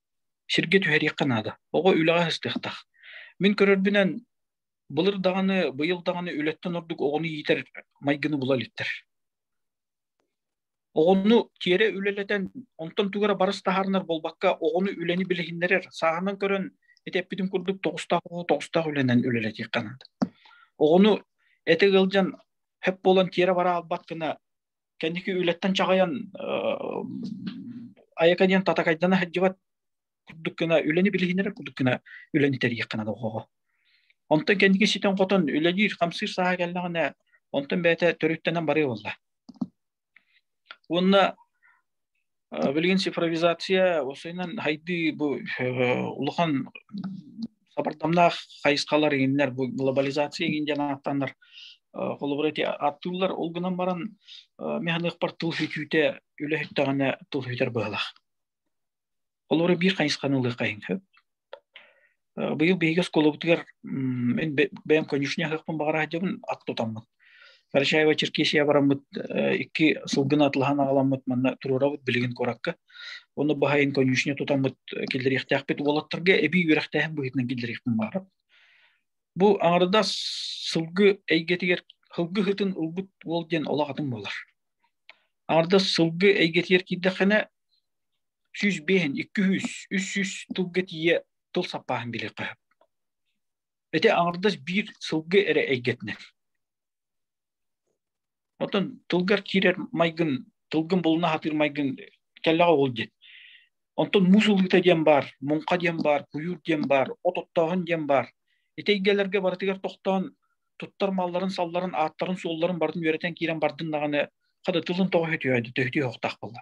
Сиргэ түһэриэххэ наада. Оҕо үлэҕэ сыстыахтаах. Мин көрөрбүнэн, былыр даҕаны, быйыл даҕаны үлэттэн ордук оҕону иитэр майгыны була иликтэр. Оҕону тиэрэ үлэлэтэн, онтон тугара барыс таһаарынар буолбакка, оҕону үлэни билиһиннэрэр. Сааһынан көрөн, ити эппитим курдук, тоҕустаах оҕо тоҕустаах үлэнэн үлэлэтиэххэ наада. Оҕону этэ ыалдьан, хөп буолан тиэрэ бара албат гына кэнники үлэттэн чаҕыйан айака диэн татакайдана сылдьыбат курдук гына үлэни билиһинэрэ курдук гына үлэни тэрийэххинэ доҕоҕо онтон кэнники ситэн-хотон үлэлиир хамсыыр сааһа кэллэҕинэ онтон бэйэтэ төрүттэнэн барыа буолла уонна билигин цифровизация осойнон хайды бу улахан сабырдамнаах хайысхалар игиннер бу глобализация игин ден аттанар холобур эти аттуулар ол гынан баран механыхпар тыл хүтүүтэ үлэһүттэҕинэ тыл хүтэр быһалах холобур биир хайысханы ылы қайын көп Быйыл биһиги оскуолабытыгар мин бэйэм конюшня аһыахпын баҕара сылдьабын ат тутаммыт. Карачаево Черкесия бараммыт икки сылгыны атлаһан аҕаламмыт манна туруорабыт билигин куоракка. Онно баһайын конюшня тутаммыт киллэриэхтээхпит уолаттарга эбии үөрэхтээһин быһыытынан киллэриэхпин баара. Бу аҥарда сылгы эйгэтигэр сылгы ыһытын ылбыт уол диэн олох атын буолар. Аҥардас сылгы эйгэтигэр киирдэххинэ сүүс биэһин икки үс үс сүүс тылга тиийэ тыл саппааһын билиэ хөп эти аҥардас биир сылгы эрэ эйгэтинэн оттон тылгар киирэр майгын тылгын булуна сатыыр майгын кэллэҕэ ол диэн онтон муус ылыыта диэн баар муҥха диэн баар куйуур диэн баар от оттооһун диэн баар ити эйгэлэргэ барытыгар тохтоон туттар малларын салларын ааттарын суолларын барын үөрэтэн киирэн бардын даҕаны хата тылын тоҕо хөтүөйдө төһтүү хохтах буолла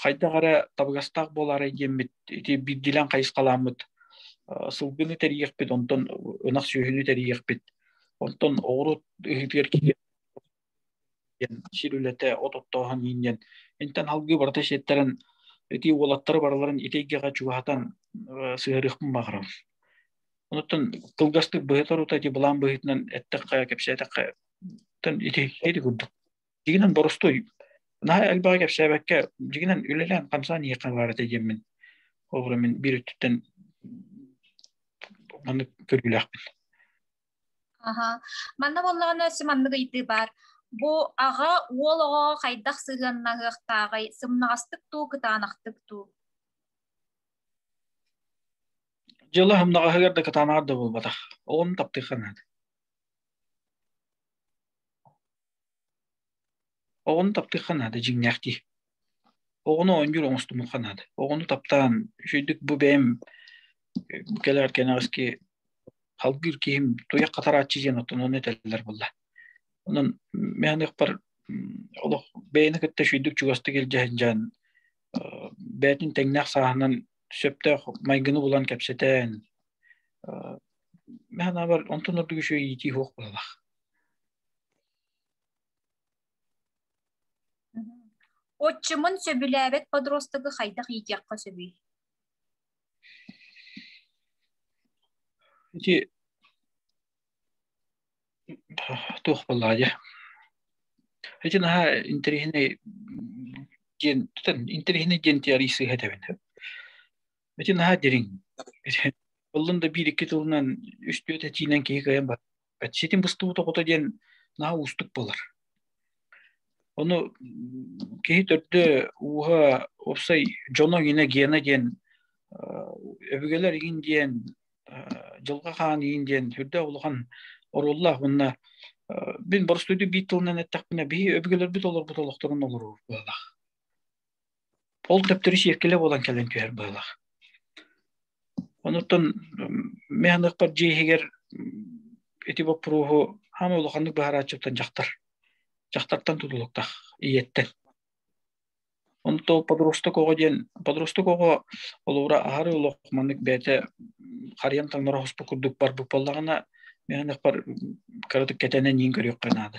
хайдах эрэ табыгастаах буолаарай диэммит ити биирдилээн хайысхалааммыт сылгыны тэрийиэхпит онтон ынах сүөһүнү тэрийиэхпит онтон оҕуруот ыһыытыгар диэн сир үлэтэ от оттооһун иин диэн интэн алгыы барыта сиэттэрэн ити уолаттары барыларын итейгэҕэ чугаһатан сыһарыахпын баҕарам онуттан кылгастык быһыта рута ити былаан быһыытынан эттэххэ кэпсээтэххэ ити курдук Дигинэн борустуй. Наһа элбэҕи кэпсээбэккэ, дигинэн үлэлээн хамсаан иэхэ баарата диэммин. Олору мин биир өттүттэн маннык көрүүлээхпин. Аха. Манна боллоҕуна сі маннык ыйдыы бар. Бу аҕа уол оҕо хайдах сыһыаннаһыахтааҕый, сымнаҕастык дуу, кытаанахтык дуу? Дьыла сымнаҕаһыгар да кытаанаҕар да буолбатах. Оҕону таптыырха наада. Оҕону таптыахха наада дьиҥнээх дии. Оҕону оонньуур оҥостумуохха наада. Оҕону таптаан үчүгэйдик бу бэйэм бу кэлэр кэнэҕэски халгыыр киһим туйах хатарааччы диэн оттон ону этэллэр буолла. Онон механикпар олох бэйэни кытта үчүгэйдик чугастык илдьэ сылдьан бэйэтин тэҥнээх сааһынан сөптөөх майгыны булан кэпсэтэн механабар онтон ордук үчүгэй иитии суох буолалах. Отчимын сөбүлээбэт подростогу хайдах иитиэххэ сөбүй? Ити туох буоллаадьа? Ити наһаа интэриэһинэй диэн интэриэһинэй диэн теорий сыһыһэтэбин. Ити наһаа дириҥ. Буллун да биир-икки тылынан үстүөт этиинэн киһи кыайан Ситим быстыбыта хото диэн наһаа уустук буолар. Ону киһи төрдө ууһа опсай дьоно ине гена диэн өбүгэлэр иин диэн дьылга хаан иин диэн сүрдэ улахан оруллах уонна бин борустуйду биир тылынан эттэхпинэ биһи өбүгэлэрбит олорбут олохторун олоруур буолах Ол төптөрү сиэккилэ буолан кэлэн түһэр быһыылаах. Онуттан механыахпар дьиэ иһигэр ити боппуруоһу хаама улаханнык быһарааччыттан дьахтар. Дьахтартан тутулуктаах, ийэттэн. Онтон подросток оҕо диэн, подросток оҕо олоҕура аһары олох маннык бэйэтэ харыйам таҥнара хоспу курдук барбыт буоллаҕына, механыахпар кыратык кэтэнэн иин көрүөххэ наада.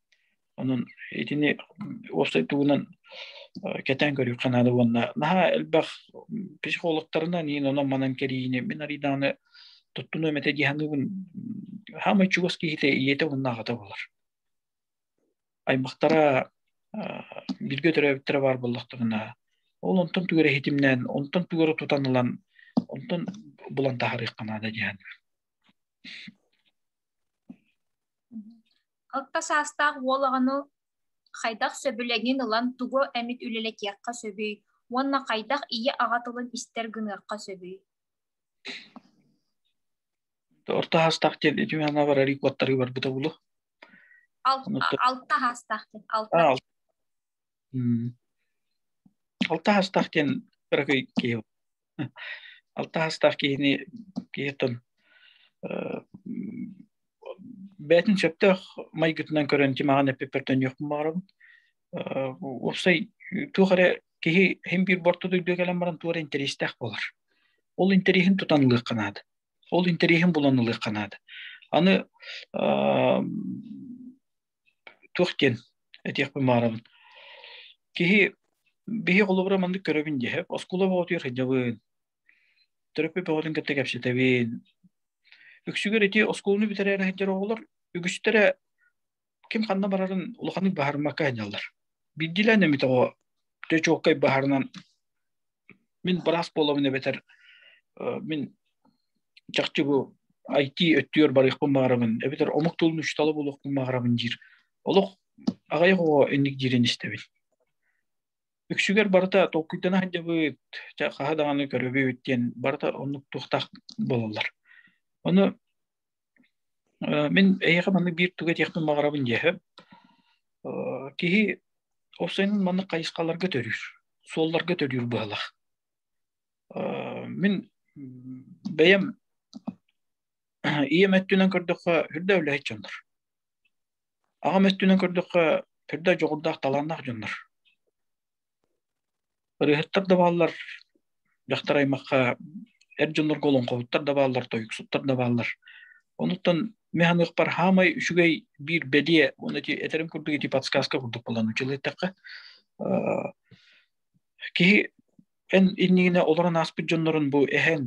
Онон итини уопсай тугунан кэтээн көрүөххэ наада уонна наһаа элбэх психологтарынан иин онон манан кэриине мин арыйдааны туттунуом этэ диһаныыбын хаамай чугас киһитэ ийэтэ уһуннаахата болар аймахтара биргэ төрөөбүттэрэ баар боллохторуна ол онтон түгэр эһитимнээн онтон түгэру тутан ылан онтон булан таһарыахха наада диһаныыбын Алта саастаах уол аҕаны хайдах сөбүлэҥин ылан тугу эмит үлэлэтиэххэ сөбүй уонна хайдах ийэ аҕа тылын истэр гыныахха сөбүй? Орто саастаах диэн итиэннэ барар икуоттары барбыта булу. Алта саастаах диэн. Алта. Алта саастаах диэн кыракый киһи. алтаастаах киһини киһитун бээтин сөптөөх майгытынан көрөн тимаҕан эппиппертен йохмун баарабын уопсай туох эрэ киһи хим биир борту дүйдө кэлэн баран туора интэриэстээх буолар ол интэриэһин тутан ылыахха наада ол интэриэһин булан ылыахха наада аны туох диэн этиэхпин маарабын киһи биһи холобура маннык көрөбүн дьэһэ оскуола боотуйар сынньабын төрөппүт бөҕөтүн кытта кэпсэтэбин үксүгэр ити оскуоланы бүтэрээр сылдьар оҕолор үгүстэрэ ким ханна барарын улаханнык баһармакка сынньаллар биирдиилээн эмит оҕо чочуоккай баһарынан Мин быраас буоламын эбэтэр мин чахчы бу IT өттүгэр барыахпын баарабын эбэтэр омук тылын учуутала булуохпун баарабын диир олох аҕайах оҕо инник диирин истэбин үксүгэр барыта толкуйдана сылдьабыт хаһа даҕаны көрөбүт диэн барыта оннук туохтаах буолаллар ону Мен эйиэхэ маннык биир туга диэхпин баҕарабын диэхэ. Киһи ол сайын маннык хайысхаларга төрүүр, суолларга төрүүр быһалах. Мин бэйэм ийэм өттүнэн көрдөххө үрдэ үлэһит дьоннор. Аҕам өттүнэн көрдөххө үрдэ дьоҕурдаах талааннаах дьоннор. Ырыаһыттар да бааллар, дьахтар аймахха эр дьоннорго олоҥхоһуттар да бааллар, тойуксуттар да бааллар. Онуттан мен ханыахпар хаамай үчүгэй биир бэлиэ уонна ити этэрим курдук ити подсказка курдук булан училыттахха киһи эн иннигинэ олорон ааспыт дьоннорун бу эһэн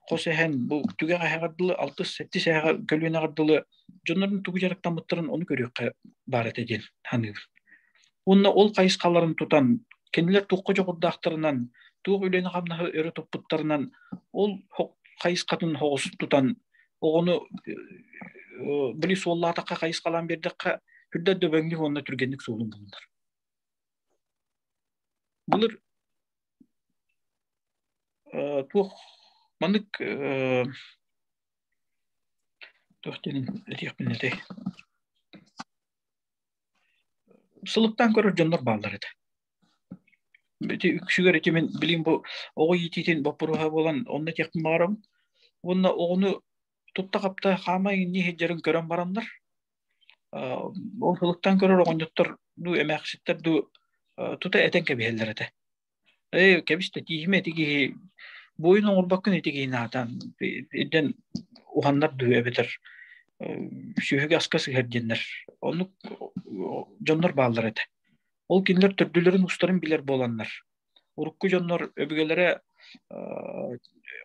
хос эһэн бу түгэх эһэҕэр дылы алтыс сэттис эһэҕэ көлүөнэҕэр дылы дьоннорун тугу дьарыктаммыттарын оны көрүөххэ баар этэ диэн саныыбын уонна ол хайысхаларын тутан кинилэр туохха дьоҕурдаахтарынан туох үлэни-хамнаһы өрө туппуттарынан ол хайысхатын соҕус тутан оҕону били суоллаатахха хайысхалаан биэрдэххэ үрдэ дөбөҥнүк уонна түргэнник суолун булунар былыр туох маннык туох диэнин этиэхпин этэй сылыктаан көрөр дьоннор бааллар этэ ити үксүгэр ити мин билим бу оҕо иитиитин боппуруоһа буолан онно этиэхпин баҕарабын уонна оҕону тутта хапта хаамай иҥнии сылдьарын көрөн бараннар Ол сылыктан көрөр оҕонньоттор дуу эмээхситтэр дуу тута этэн кэбиһэллэр этэ. Эй, кэбистэ тииһим эти киһи буойун оҥорбоккун ити киһин аатан ирдэн уһаннар дуу эбэтэр сүөһүгэ аска сыһар диэннэр оннук дьоннор бааллар этэ. Ол кинилэр төрдүлэрин устарын билэр буоланнар урукку дьоннор өбүгэлэрэ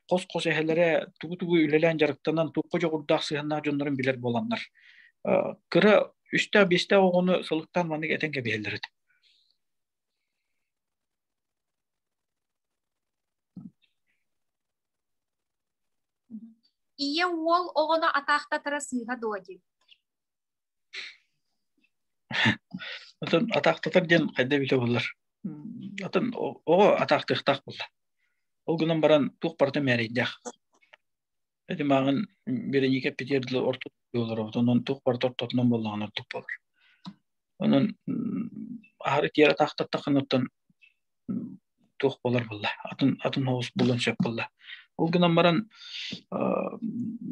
хос-хос эһэлэрэ тугу-тугу үлэлээн дьарыктанан туохха дьоҕурдаах сыһыаннаах дьоннорун билэр буоланнар кыра үстээх биэстээх оҕону сылыктаан маннык этэн кэбиһэллэр этэ ийэ уол оҕону атаахтатара сыыһа дуо дии Отон атаахтатар диэн хайда билэ боллар. Отон оҕо атаахтыахтаах болла. Ол гынан баран туох барыта мээрейдээх. Эти маағын Береника Петердл орту болар онон туох барыта ортотунан боллаҕын ортук болар. Онон аһары тиэрэ таахтаттахын оттон туох буолар буолла атын атын соҕус булан сөп буолла ол гынан баран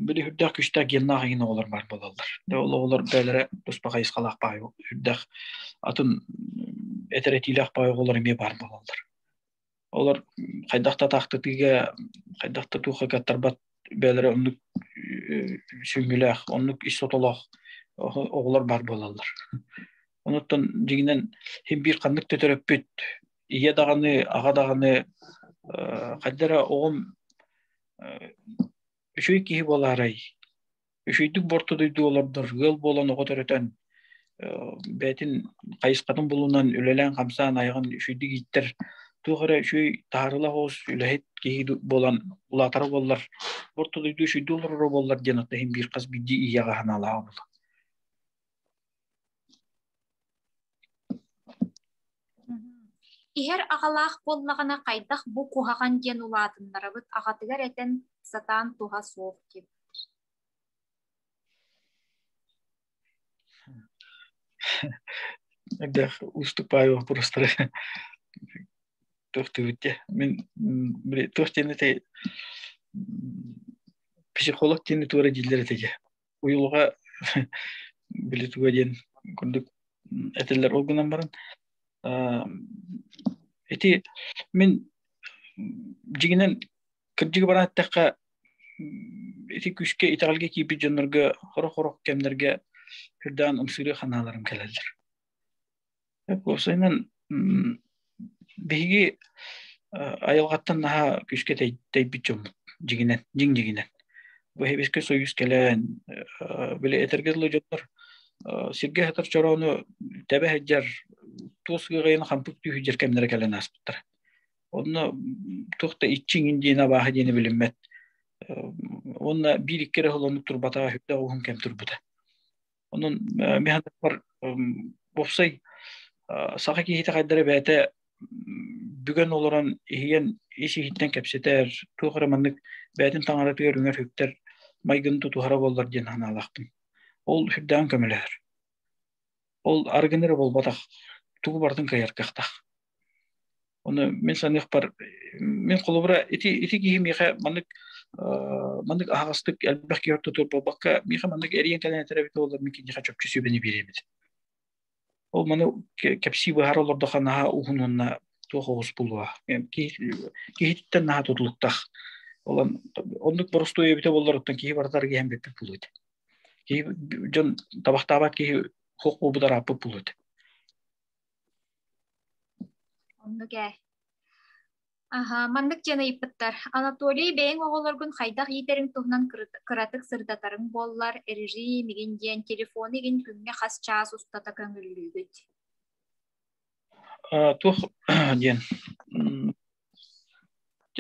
били үрдээх күстээх геннаах игин оҕолор баар буолаллар да ол оҕолор бээлэрэ туспа хайысхалаах баай үрдэх атын этэрэтиилээх баай оҕолор эмиэ баар буолаллар олор хайдах да таахтытыыга хайдах да туохха каттарбат бээлэрэ оннук сүҥҥүлээх оннук ис сотолоох оҕолор баар буолаллар Онуттан дьиҥинэн син биир ханнык төтөрөппүт ийэ даҕаны, аҕа даҕаны хайда эрэ оҕом үчүгэй киһи буолаарай? Үчүгэйдик борто дойду олордор ыал буолан оҕо төрөтөн бэйэтин хайысхатын булунан үлэлээн-хамсаан айаҕын үчүгэйдик ииттэр туох эрэ үчүгэй таһаарыылаах оҕус үлэһит киһи буолан улаатара буоллар орто дойду үчүгэйдик олороро буоллар диэн оттон син биир хас биирдии ийэҕэ санаалаах иһэр аҕалаах буоллаҕына хайдах бу куһаҕан диэн улаатыннарабыт аҕатыгар этэн сатаан туһа суох диэн Эгдэх уступаю вопростары төхтүбүтте мен туох диэн эте психолог диэн туора дииллер этеге уйулуга били туга диэн курдук этилэр ол гынан баран ити мин дьигинэн кырдьыгы баран эттэххэ ити күскэ итэҕэлгэ киирбит дьоннорго хорох-хорох кэмнэргэ үрдээн ымсыырыы ханааларым кэлэллэр Косайынан биһиги айылҕаттан наһаа күүскэ тэйбит дьоммут дьиҥинэн, дьиҥ-дьиҥинэн. Бу Сэбиэскэй Союз кэлэн, били этэргэ дылы дьоннор сиргэ сытар чороону тэбэ сылдьар туос ыаҕайын хампык түүһүддэр кэмнэрэ кэлэн ааспыттара. Онно туох да иччиҥин диэни абааһы диэни билиммэт. Уонна биир-икки эрэ холонук турбатаҕа үрдэх уһун кэм турбута. Онон механизмар уопсай саха киһитэ хайдара бэйэтэ бүгэн олорон иһийэн ис иһиттэн кэпсэтэр, туох эрэ маннык бэйэтин таҥаратыгар үҥэр үктэр майгын тутуһара буоллар диэн санаалаахпын. Ол сүрдээх көмөлөһөр. Ол аргыныр болбатах, тугу барытын кыайар кыахтаах. Оны мен саныахпар мен холобура ити ити киһи миэхэ маннык маннык аһаҕастык элбэх киһи ортотур буолбакка миэхэ маннык эриэн тэлээнэтэрэ эбитэ боллар мен киниэхэ чопчу сүбэни биэриэбит ол маны кэпсии быһаара олордохо наһаа уһун уонна туох оҕус булуа киһититтэн наһаа тутулуктах олон оннук боростуой эбитэ боллоруттан киһи барытар гиһэн бүппүт булуйт киһи дьон табахтаабат киһи хоқ буубут арааппыт булуйт Оннук ээ. Аһа, маннык диэн ыйыппыттар. Анатолий, бэйэҥ оҕолоргун хайдах иитэриҥ туһунан кыратык сырдатарыҥ буоллар, режим игин диэн телефон игин күҥҥэ хас чаас устата көҥүллүүгүт? Туох диэн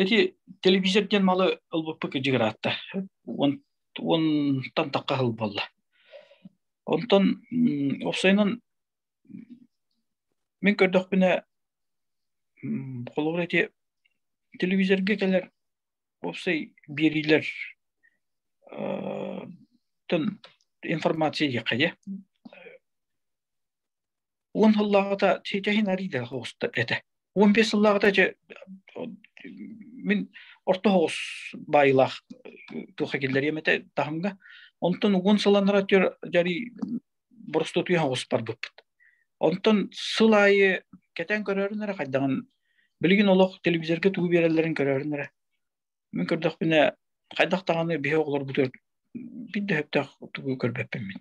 Ити телевизор диэн малы ылбыппыт кыдьыгыраатта. Онтан такка хыл буолла. Онтон опсайынан Мин көрдөхпүнэ холобур эти телевизорга кэлэр уопсай биэриилэр информация диэххэ дьэ уон сыллааҕыта Тетяхин Арийда оҕуста этэ уон биэс сыллааҕыта дьэ мин орто соҕус баайылаах тылга киллэриэм этэ таһымга онтон уон сылланара дьарый боростуотуйа оҕуспарбыппыт. Онтон сыл аайы кэтэн көрөрүн эрэ хайдаҕын билигин олох телевизорга тугу биэрэллэрин көрөрүн эрэ мин көрдөхпүнэ хайдах даҕаны биһи оҕолорбутугар биирдэ сөптөөх тугу көрбөппүн мин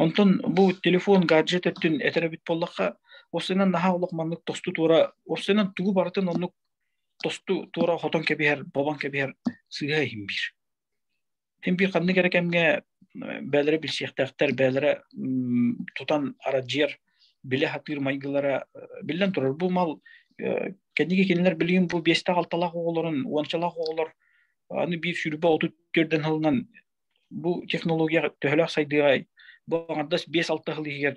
онтон бу телефон гаджет өттүн этэр эбит буоллахха осынан наһаа олох маннык тосту туора осынан тугу барытын оннук тосту туора хотон кэбиһэр бобан кэбиһэр сыыһа иһин биир Син биир ханнык эрэ кэмҥэ бээлэрэ билсиэхтээхтэр, бээлэрэ тутан арадьыйар, билэ сатыыр майгылара биллэн турар. Бу мал кэнники кинилэр билигин бу биэстээх-алталаах оҕолорун, уончалаах оҕолор аны биир сүүрбэ отут түөрдэн сылынан бу технология төһөлөөх сайдыаҕай, бу аҥардас биэс-алта сыл иһигэр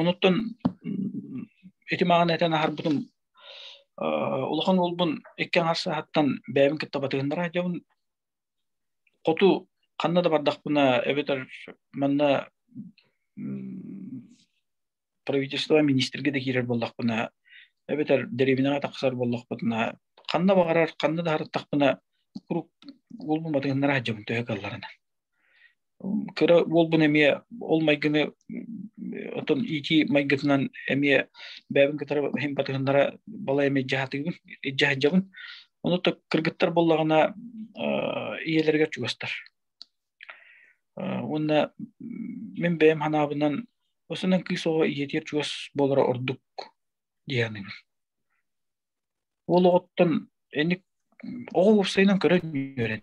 Онуттан ити маҕан этэн аһарбытым улахан уолбун икки аҥар саһаттан бэйэбин кытта батыһыннара дьабын хоту ханна да бардахпына эбэтэр манна правительство министрге да киирэр боллохпуна эбэтэр дэриэбинэҕэ тахсар боллохпутуна ханна баҕарар ханна да харыттахпына курук улбун батыһыннара дьабын төһө калларынан кыра уолбун эмиэ ол майгыны отон иити майгытынан эмиэ бэйэбин кытары иһин батыһыннара бала эмиэ дьаһатыгын дьаһыдьабын ону то кыргыттар боллаҕына ийэлэригэр чугастар уонна мин бэйэм ханаабынан осынан кыыс оҕо ийэтиэр чугас буолара ордук диэаныгын уол оҕоттон эник оҕо уопсайынан көрөн үөрэн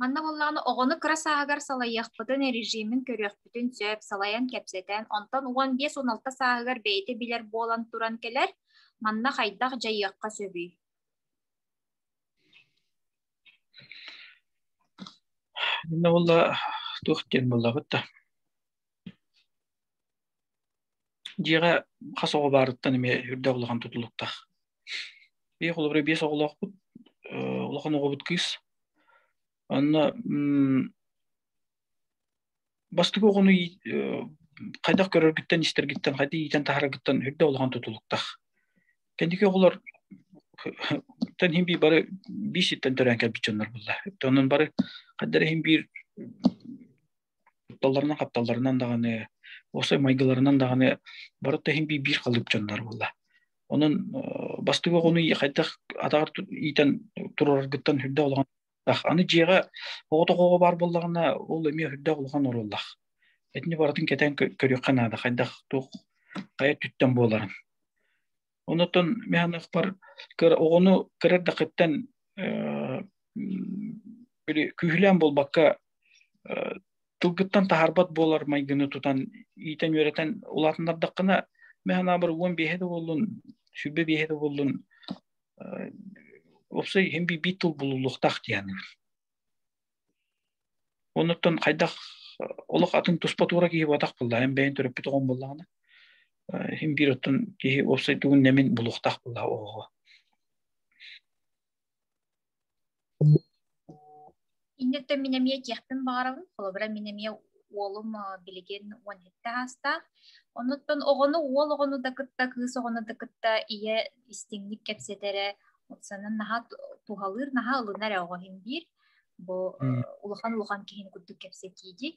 Манна буоллаҕына оҕону кыра сааһыгар салайыахпытын, режимин көрүөхпүтүн сөп, салайан кэпсэтэн, онтон уон биэс уон алта сааһыгар бэйэтэ билэр буолан туран кэлэр. Манна хайдах дьайыахха сөбүй? Инна буолла туох диэн буоллаҕыт да? Дьиэҕэ хас оҕо баарыттан эмиэ үрдэ улахан тутулуктаах. Биир холобура биэс оҕолоохпут, э, улахан оҕобут кыыс. Онно м, бастакы оҕону ии- э, хайдах көрөргүттэн, истэргиттэн, хайдах иитэн таһараргыттан үрдэ улахан тутулуктаах. Кэнники оҕолор тэн хин биир бары биир ситтэн төрөөн кэлбит дьоннор булла. Онон бары хайдары хин биир кутталларынан хапталларынан даҕаны осы майгыларынан даҕаны бары да иһин биир халыып дьоннор буолла онон бастыҥ оҕону хайдах атаҕар иитэн тураргыттан үрдэ улахан аны дьиэҕэ оҕото оҕоҕо баар буоллаҕына ол эмиэ үрдэ улахан оруоллаах итини барытын кэтээн көрүөххэ наада хайдах туох хайа түттэн буоларын Онотон механахпар оҕону кырар дакыттан күүһүлээн буолбакка тылгыттан таһарбат буолар майгыны тутан иитэн үөрэтэн улаатыннардаххына механабыр уон биэһэ да буоллун сүбэ биэһэ да буоллун опсай хим би тыл булулуохтаах диэн Онуттан хайдах олох атын туспа туура киһи буотах булла. Эн бэйэн төрөппүт оҕом буллаҕына, иһин биир оттон киһи уопсайдыгын нэмин булуохтаах булла оҕоҕо. Инниттэн мин эмиэ киэхпин баҕарабын, холобура мин эмиэ уолум билигин уон сэттэ аастаах. Онуттан оҕону уол оҕону да кытта, кыыс оҕону да кытта ийэ истиҥник кэпсэтэрэ, санан наһаа туһалыыр, наһаа ылынар оҕо иһин биир. бу улахан улахан киһини курдук кэпсэтииди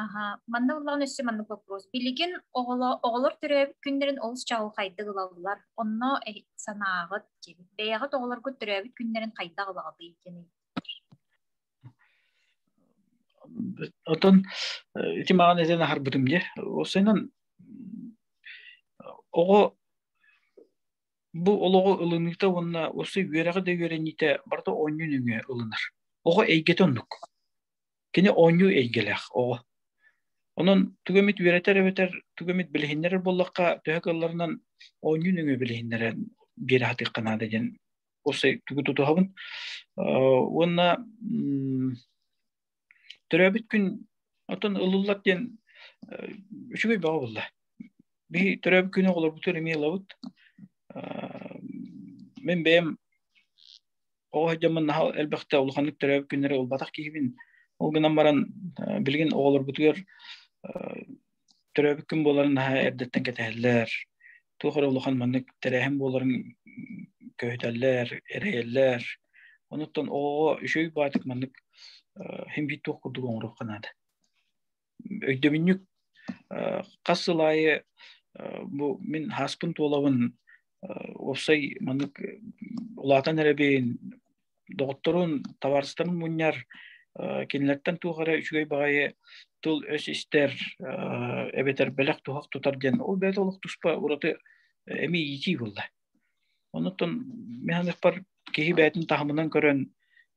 аха манна ыллаҕын өссө маннык вопрос билигин оҕолор төрөөбүт күннэрин олус чаҕылхайдык ылаллар онно санааҕыт диэбит бэйэҕит оҕолоргут төрөөбүт күннэрин хайдах ылаҕытый диэн оттон ити маҕан этэн аһарбытым дьэ ол сайынан оҕо Бу олоҕу ылыныыта уонна осы үөрэҕи да үөрэниитэ барыта оонньуу нөҥүө ылынар. Оҕо эйгэтэ оннук. Кини оонньуу эйгэлээх оҕо. Онон тугу эмит үөрэтэр эбэтэр тугу эмит билиһиннэрэр буоллахха төһө кылларынан оонньуу нөҥүө билиһиннэрэн биэрэ сатыахха наада диэн осы тугу тутуһабын. Уонна Төрөөбүт күн отон ылыллат диэн үчүгэй бөҕө булла. Би төрөөбүт күнү олорбутун эмиэ ылабыт. Мен бэйэм оҕо дьоммун наһал элбэхте улаханнык төрөөбүт күннэри ылбатах киһибин. Ол гынан баран билигин оҕолорбутугар төрөөбүт күн буоларын наһаа эрдэттэн кэтэһэллэр туох эрэ улахан маннык тэрээһин буоларын көһүтэллэр эрэйэллэр онуттан оо үчүгэй баатык маннык химбит туох курдук оҥоруохха наада өйдөбүнньүк хас сыл аайы бу мин хааспын туолабын уопсай маннык улаатан эрэбин доҕотторун, табаарыстарын мунньар, кинилэртэн туох эрэ үчүгэй баҕайы тыл-өс истэр, эбэтэр бэлэх туһах тутар диэн ол бэйэтэ олох туспа ураты эмиэ иитии буолла. Онуттан мен ханыкпар киһи бээтин таһымынан көрөн,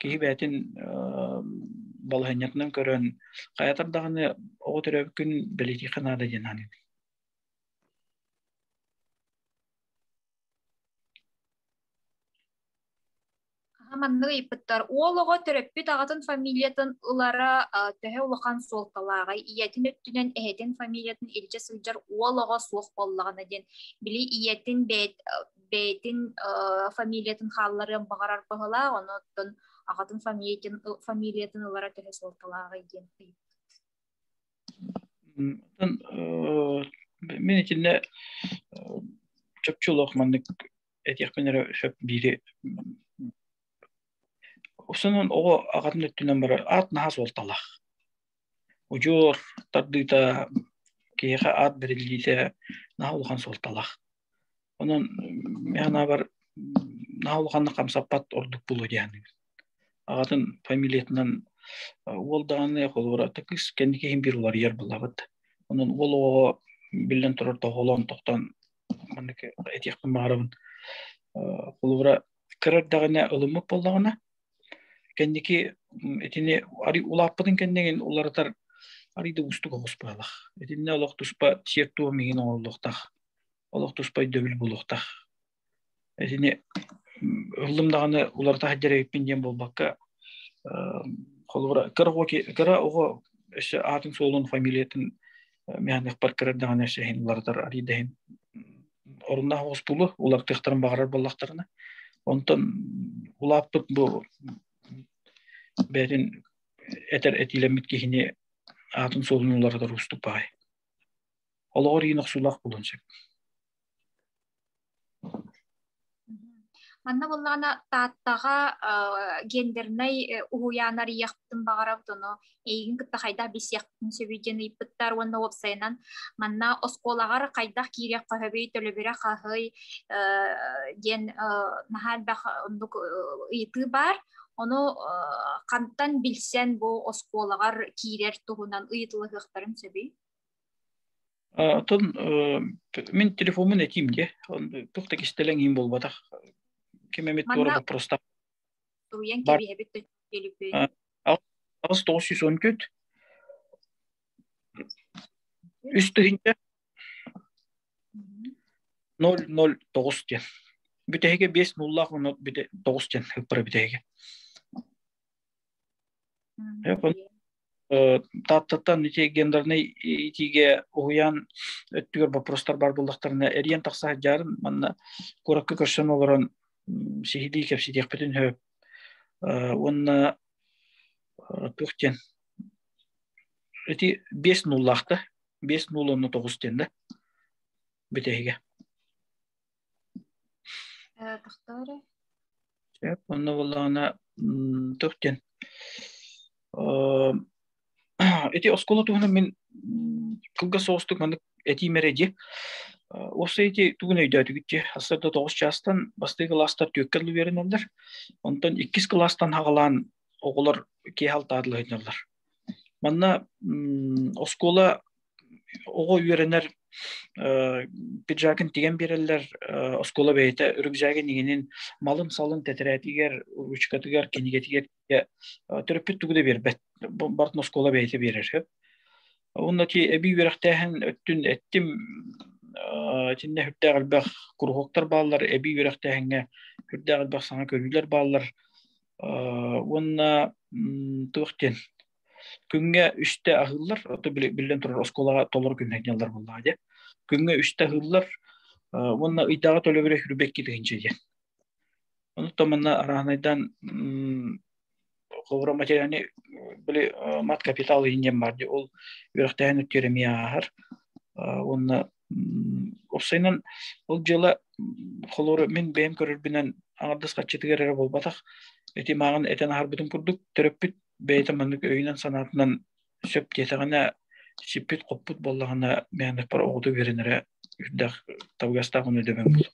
киһи бээтин балаһынньатынан көрөн, хайатар даҕаны оҕо төрөөбүккүн бэлитиихэ наада диэн аныыбын. маннык ыйыппыттар уол оҕо төрөппүт аҕатын фамилиятын ылара төһө улахан суолталааҕай ийэтин өттүнэн эһэтин фамилиятын илдьэ сылдьар уол оҕо суох буоллаҕына диэн били ийэтин бэйт бэйэтин фамилиятын хаалларыан баҕарар баһылаах онон аҕатын фамилиятын фамилиятын ылара төһө суолталааҕый диэн ыйыппыт мин итиннэ чопчу олох маннык этиэхпин эрэ сөп биири Сонун оҕо ағатын өттүнен бары аат наһас уолталах. Учуор тардыыта киһиэхэ аат бэриллиитэ наһа улахан суолталах. Онон мианабар наһа улаханна хамсаппат ордук булу дианыгын. Ағатын фамилиятынан уол даҕаны холура такыс кэнники хин бир уларыйар булабыт. Онон уол оҕо биллен турар тоһолон тохтон маннык этиэхпин баҕарабын холобура кыра эрдэҕинэ ылыммыт буоллаҕына кэнники итини арый улааппытын кэннигин уларытар арый да уустук оҕус баалах итиннэ олох туспа сиэр туом иһин оҥоруллуохтаах олох туспа өйдөбүл булуохтаах Итини ыллым даҕаны уларыта хаддьарыгыппын диэн буолбакка, холобура кыра оҕо кыра оҕо өссө аатын суолун фамилиятын мианыхпар кырар даҕаны өссө уларытар арыйдаһын оруннаах оспулу улартыахтарын баҕарар буоллахтарына онтон улааппыт бу бээтин этэр этиилэммит киһини аатын суолун уларытар уустук баҕай олоҕор иин охсуулаах булун сөп Манна буллаҕына Тааттаҕа гендернай уһуйаан арыйыахпытын баҕарабыт, ону эйигин кытта хайдах билсиэхпитин сөбүй диэн ыйыппыттар уонна уопсайынан манна оскуолаҕар хайдах киириэх хоһобүй, төлөбүрэ хаһый диэн наһаа элбэх оннук ыйытыы баар. Ону хантан билсэн бу оскуолаҕар киирэр туһунан ыйытылыһыахтарын сөбүй? Оттон мин телефоммун этиим дии. Туох да кистэлэҥ иһин буолбатах. Ким эмит туора боппурустах. Суруйан кэбиһэбит төлүппүй. Аҕыс тоҕус сүүс он төрт. Үс тыһыынча. Ноль ноль тоҕус диэн. Бүтэһигэ биэс нуллаах онно бүтэ тоҕус диэн ыппара бүтэһигэ. Тааттаттан гендернэй итиигэ уһуйаан өттүгэр боппурустар бар булдахтарына эриэн тахса сылдьаарым манна куоракка көрсөн олорон сиһилии кэпсэтиэхпитин сөп уонна туох диэн эти биэс нуллаахта биэс нул онно тоҕус диэн да бүтэһигэ Тахтаары. Сөп. Онно буоллаҕына тух диэн эти оскуола туһунан мин кылгас соҕустук маннык этиим эрэ дии осы эти тугун өйдөөтүгүтчи ассарда тоҕус чаастан бастыы кылаастар түөккэ улувериналлар онтон иккис кылаастан хаҕалаан оҕолор киэһал таатылы хынналлар манна оскуола оҕо үөрэнэр пиджакын тигэн биэрэллэр оскуола бэйэтэ үрүк жагын игинин малын салын тэтирээтигэр ручкатыгар кинигэтигэр төрөппүт тугу да биэрбэт бартын оскуола бэйэтэ биэрэр сөп онно ти эби үөрэхтээһин өттүн эттим тинне хүрдээх элбэх куруһуоктар бааллар эби үөрэхтээһиҥҥэ хүрдээх элбэх саҥа көрүүлэр бааллар уонна туохтен Күҥҥэ үстэ аһыыллар, ото биллэн турар оскуолаҕа толору күннэтинэллэр буоллаҕа дии. Күҥҥэ үстэ аһыыллар уонна ыйдааҕы төлөбүрэ хүрбэкки тыһыынча диэн. Онуттан манна араанайдан холобура материальный били мат капитал иһин диэн баар ол үөрэхтээһин өттүгэр эмиэ ааһар уонна Уопсайынан ол дьыла холору мин бэйэм көрөрбүнэн аҥардас хаччытыгар эрэ буолбатах. Ити мааҕын этэн аһарбытым курдук, төрөппүт бэйэтэ маннык өйүнэн-санаатынан сөп диэтэҕинэ, сиппит-хоппут буоллаҕына, мээндаппар оҕото үөрэнэрэ үрдэх табыгастаах ону дөбөҥ буолар.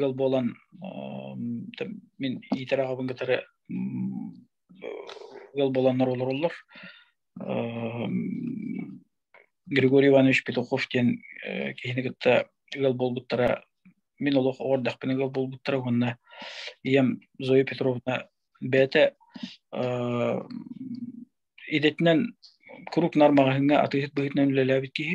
ыал буолан мин иитэр аҕабын кытары ыал буоланнар олороллор Григорий Иванович Петухов диэн киһини кытта ыал буолбуттара мин олох оҕордахпына ыал буолбуттара уонна ийэм Зоя Петровна бэйэтэ идэтинэн круг нар маҕаһыыҥҥа атыыһыт быһыытынан үлэлээбит киһи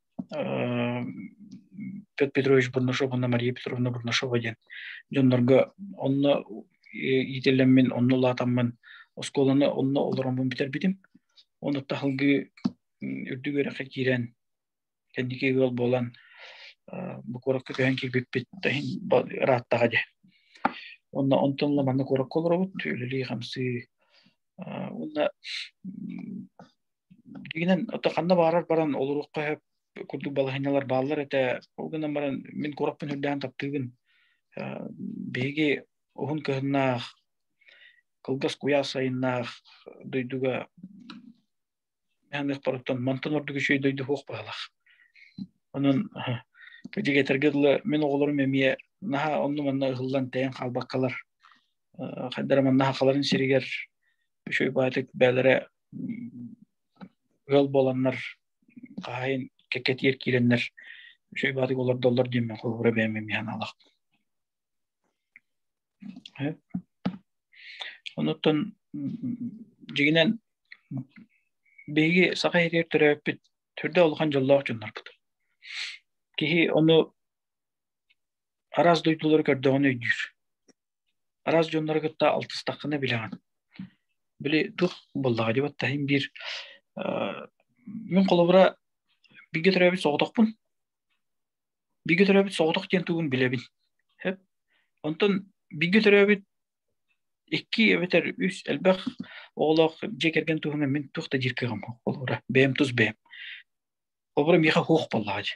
Петр Петрович Бурнашов уонна Мария Петровна Бурнашова диэн дьоннорго онно иитиллэммин, онно улаатаммын, оскуоланы онно олороммун бүтэрбитим. Онно таһылгы үрдүк үөрэххэ киирэн, кэнники ыал буолан, бу куоракка көһөн киирбиппит ырааттаҕа дьэ. Онно онтон ла манна куоракка олоробут, үлэлии-хамсыы, уонна Дигинен ото ханна баарар баран олоруохха сөп курдук балаһынньалар бааллар этэ. Ол гынан баран мин куораппын үрдээн таптыыбын. Биһиги уһун кыһыннаах, кылгас куйаас сайыннаах дойдуга ханыахпарыттан мантан ордук үчүгэй дойду суох баалах. Онон дигиэтэргэ дылы мин оҕолорум эмиэ наһаа онну манна ыһыллан тэйэн хаалбаккалар хайдара маннаха халарын сиригэр үчүгэй баатык бээлэрэ ыал буоланнар хаайын кэккэтиэр киирэннэр үчүгэй баатык олордоллор диэммин холобура бээмим яналахпын онуттан дьигинэн биһиги саха ириэр төрөөппүт түрдэ улахан дьоллоох дьоннорбут киһи ону араас дойдулары көрдөҕүн өйдүүр араас дьоннору кытта алтыстаххына билэҕин били туох буоллаҕа дии баттаһыым биир мин холобура бииргэ төрөөбүт соҕотохпун бииргэ төрөөбүт соҕотох диэн тугун билэбин сөп онтон бииргэ төрөөбүт икки эбэтэр үс элбэх оҕолоох дьиэ кэргэн туһунан мин туох да диир кыаҕым суох болура бэйэм тус бэйэм холобура миэхэ суох буоллаҕа дии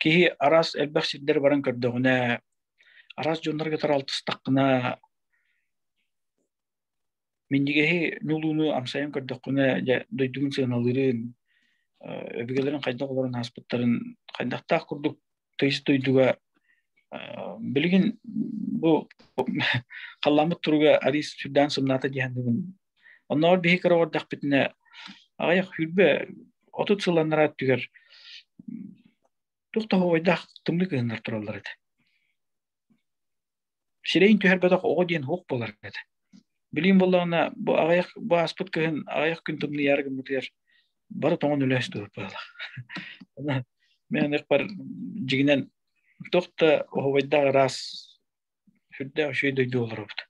киһи араас элбэх сирдэр баран көрдөҕүнэ, араас дьоннорго таралтыстаххына, минньигэһи ньулууну амсайан көрдөххүнэ, дьэ дойдугун сыаналыырын, өбүгэлэрин хайдах олорон ааспыттарын, хайдахтаах курдук тыйыс дойдуга билигин бу халлааммыт туруга арий сүрдээн сымнаата дии саныыбын Оннооҕор биһи кыра олордахпытына аҕыйах хүрбэ отут сылланнара өттүгэр туох тоһоҕойдаах тымныы кыһыннар тураллар этэ. Сирэйин түһэрбэтэх оҕо диэн уох буолар этэ. Билим боллаҕына бу аҕыйах бу ааспыт кыһын аҕыйах күн тымныйаары гыммытыгар бары тоҥон үлэһис дур быһыылах. Мен ыкпар жигинен тохта оһовайдаа раз сүрдээх үчүгэй дойду олоробут.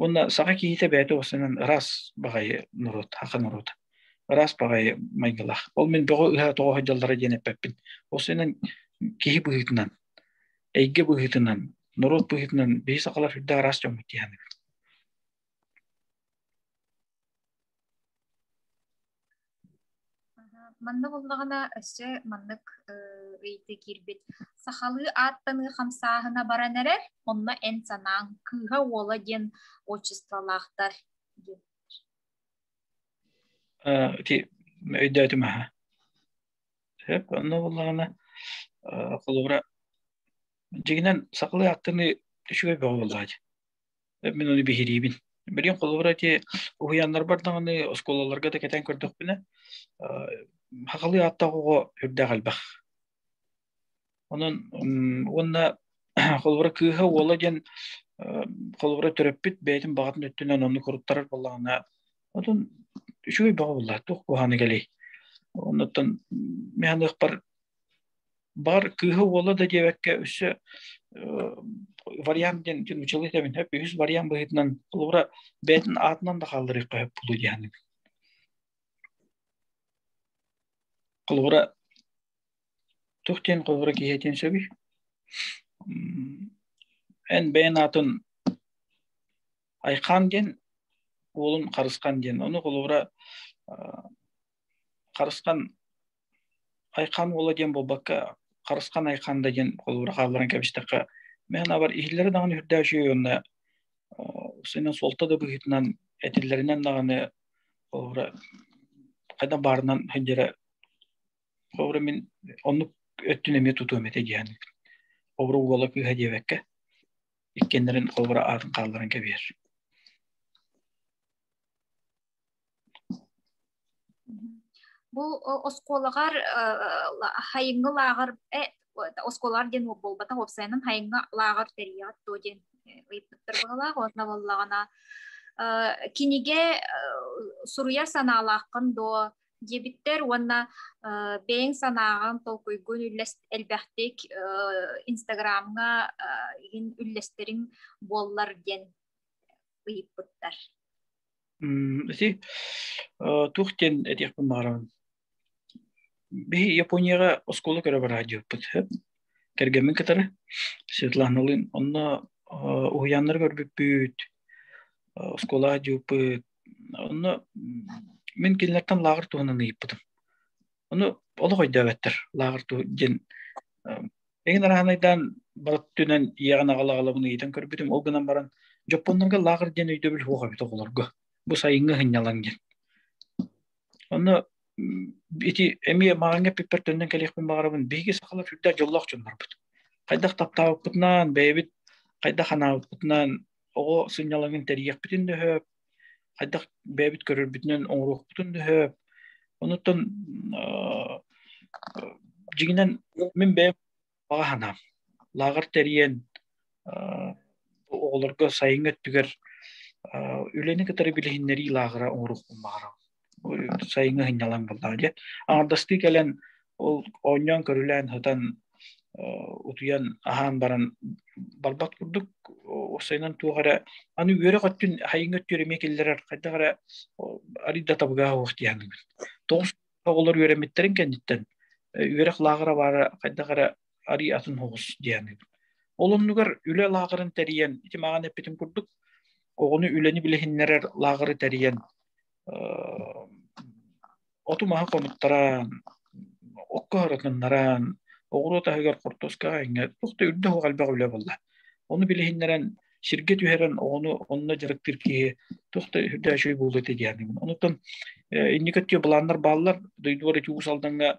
Уонна саха киһитэ бэйэтэ уосанан ыраас баҕайы норуот, аха норуот, ыраас баҕайы майгылаах. Ол мин бөҕө ыһа тоҕо сылдьаллара диэн эппэппин. Уосанан киһи быһыытынан, эйгэ быһыытынан, норуот быһыытынан биһи сахалар үрдэ араас дьоммут диэхэнэбит. Манна булнаҕына өссө маннык ыйытыы киирбит. Сахалыы ааттаныы хамсааһына баран эрэр, онно эн санааҥ кыыһа уола диэн отчестволаахтар диэн. Ити өйдөөтүм аха. Сөп, онно булнаҕына холобура дьигинэн сахалыы ааттаныы үчүгэй бөҕө буоллаҕа Мин оны биһириибин. Билигин холобура те уһуйааннарбар даҕаны оскуолаларга да кэтэн көрдөхпүнэ хахалыы ааттаах оҕо үрдээх элбэх. Онон уонна холобура кыыһа уола диэн холобура төрөппүт бэйэтин баҕатын өттүнэн онну куруттарар буоллаҕына отун үчүгэй бөҕө буллаах туох куһааны кэлей. Оннуттан мен аныахпар бар кыыһа уола да диэбэккэ өссө вариант диэн училовец эбин хөп үһүс вариант быһыытынан холобура бэйэтин аатынан да хаалларыахха хөп буолуо диэхэник холобура тух диэн холобура киһиэтин сөбүй эн бэйэн аатын айхаан диэн уолун харысхан диэн ону холобура харысхан Айхаан уола диэн буолбакка, Харысхан Айхаан да диэн холуура хаалларан кэбистэххэ, мээнабар иһиллэрэ даҕаны үрдээчи уонна сынын суолта да быһыытынан этиллэринэн даҕаны холуура хайдах баарынан сылдьара холуура мин оннук өттүн эмиэ тутуом этэ диэн холуура уола кыыһа диэбэккэ иккиэннэрин холуура аатын хаалларан кэбиһэр Бу оскуолаҕар хайыҥҥы лааҕыр оскуолалар диэн буолбатах уопсайынан хайыҥҥы лааҕыр тэрийэҕит дуо диэн ыйыппыттар баҕалаах уонна буоллаҕына кинигэ суруйар санаалааххын дуо диэбиттэр уонна бэйэҥ санааҕын толкуйгун элбэхтик инстаграмҥа иһин үллэстэриҥ буоллар диэн ыйыппыттар. Ити туох диэн этиэхпин баҕарабын. Биһи Японияҕа оскуола көрө бара дьыппыт. Кэргэммин кытары Светланалыын онно уһуйааннары көрбүппүт, оскуолаҕа дьыппыт. Онно мин кинилэртэн лааҕыр туһунан ыйыппытым. Ону олох өйдөөбөттөр, лааҕыр туһу диэн Эҥин араанайдаан бары түнэн иэҕин аҕалаҕалабын ыйытан көрбүтүм, ол гынан баран дьоппоннорго лаахыр диэн өйдөбүл суох эбит оҕолорго. Бу сайыҥҥы һынньалаҥ диэн. Онно ити эмиэ маҕаҥҥа эппиппэр төннөн кэлиэхпин баҕарабын. Биһиги сахалар үрдээх дьоллоох дьоннорбут. Хайдах таптаабыппытынан, бэйэбит хайдах анаабыппытынан оҕо сынньалаҥын тэрийиэхпитин дөһөөп, хайдах бэйэбит көрөрбүтүнэн оҥоруохпутун дөһөп онуттан дьиҥинэн мин бэйэм баҕа санаам лааҕыр тэрийэн оҕолорго сайыҥҥы өттүгэр үлэни кытары билиһиннэрии лааҕыра оҥоруохпун баҕарабын сайыҥҥы сынньалаҥ буллаҕа диэн аҥардастыы кэлэн ол оонньоон көрүлээн сытан утуйан аһаан баран барбат курдук сайынан туох эрэ аны үөрэ көттүн хайыҥҥа өттүөр эмиэ киллэрэр хайдах эрэ арыйда табыгаһа уох диэханыгын тоҕус оҕолор үөрэммиттэрин кэнниттэн үөрэх лааҕыра баара хайдах эрэ арий атын хоҕус диэнип. Ол оннугар үлэ лааҕырын тэрийэн, ити маҕан эппитим курдук, оҕону үлэни билиһиннэрэр лааҕыры тэрийэн, оту маһа хонуттаран, окко һарытыннаран, оҕуруот аһыгар хортуоскаҕа иҥэр, тухта үрдэ хоҕ элбэх үлэ болла. Ону билиһиннэрэн, сиргэ түһэрэн оҕону онно дьарыктыыр киһи тухта үрдөөшүй буолуо диэни. Онутан инники өттө былааннар бааллар, дойдугар ити уус алдаҥҥа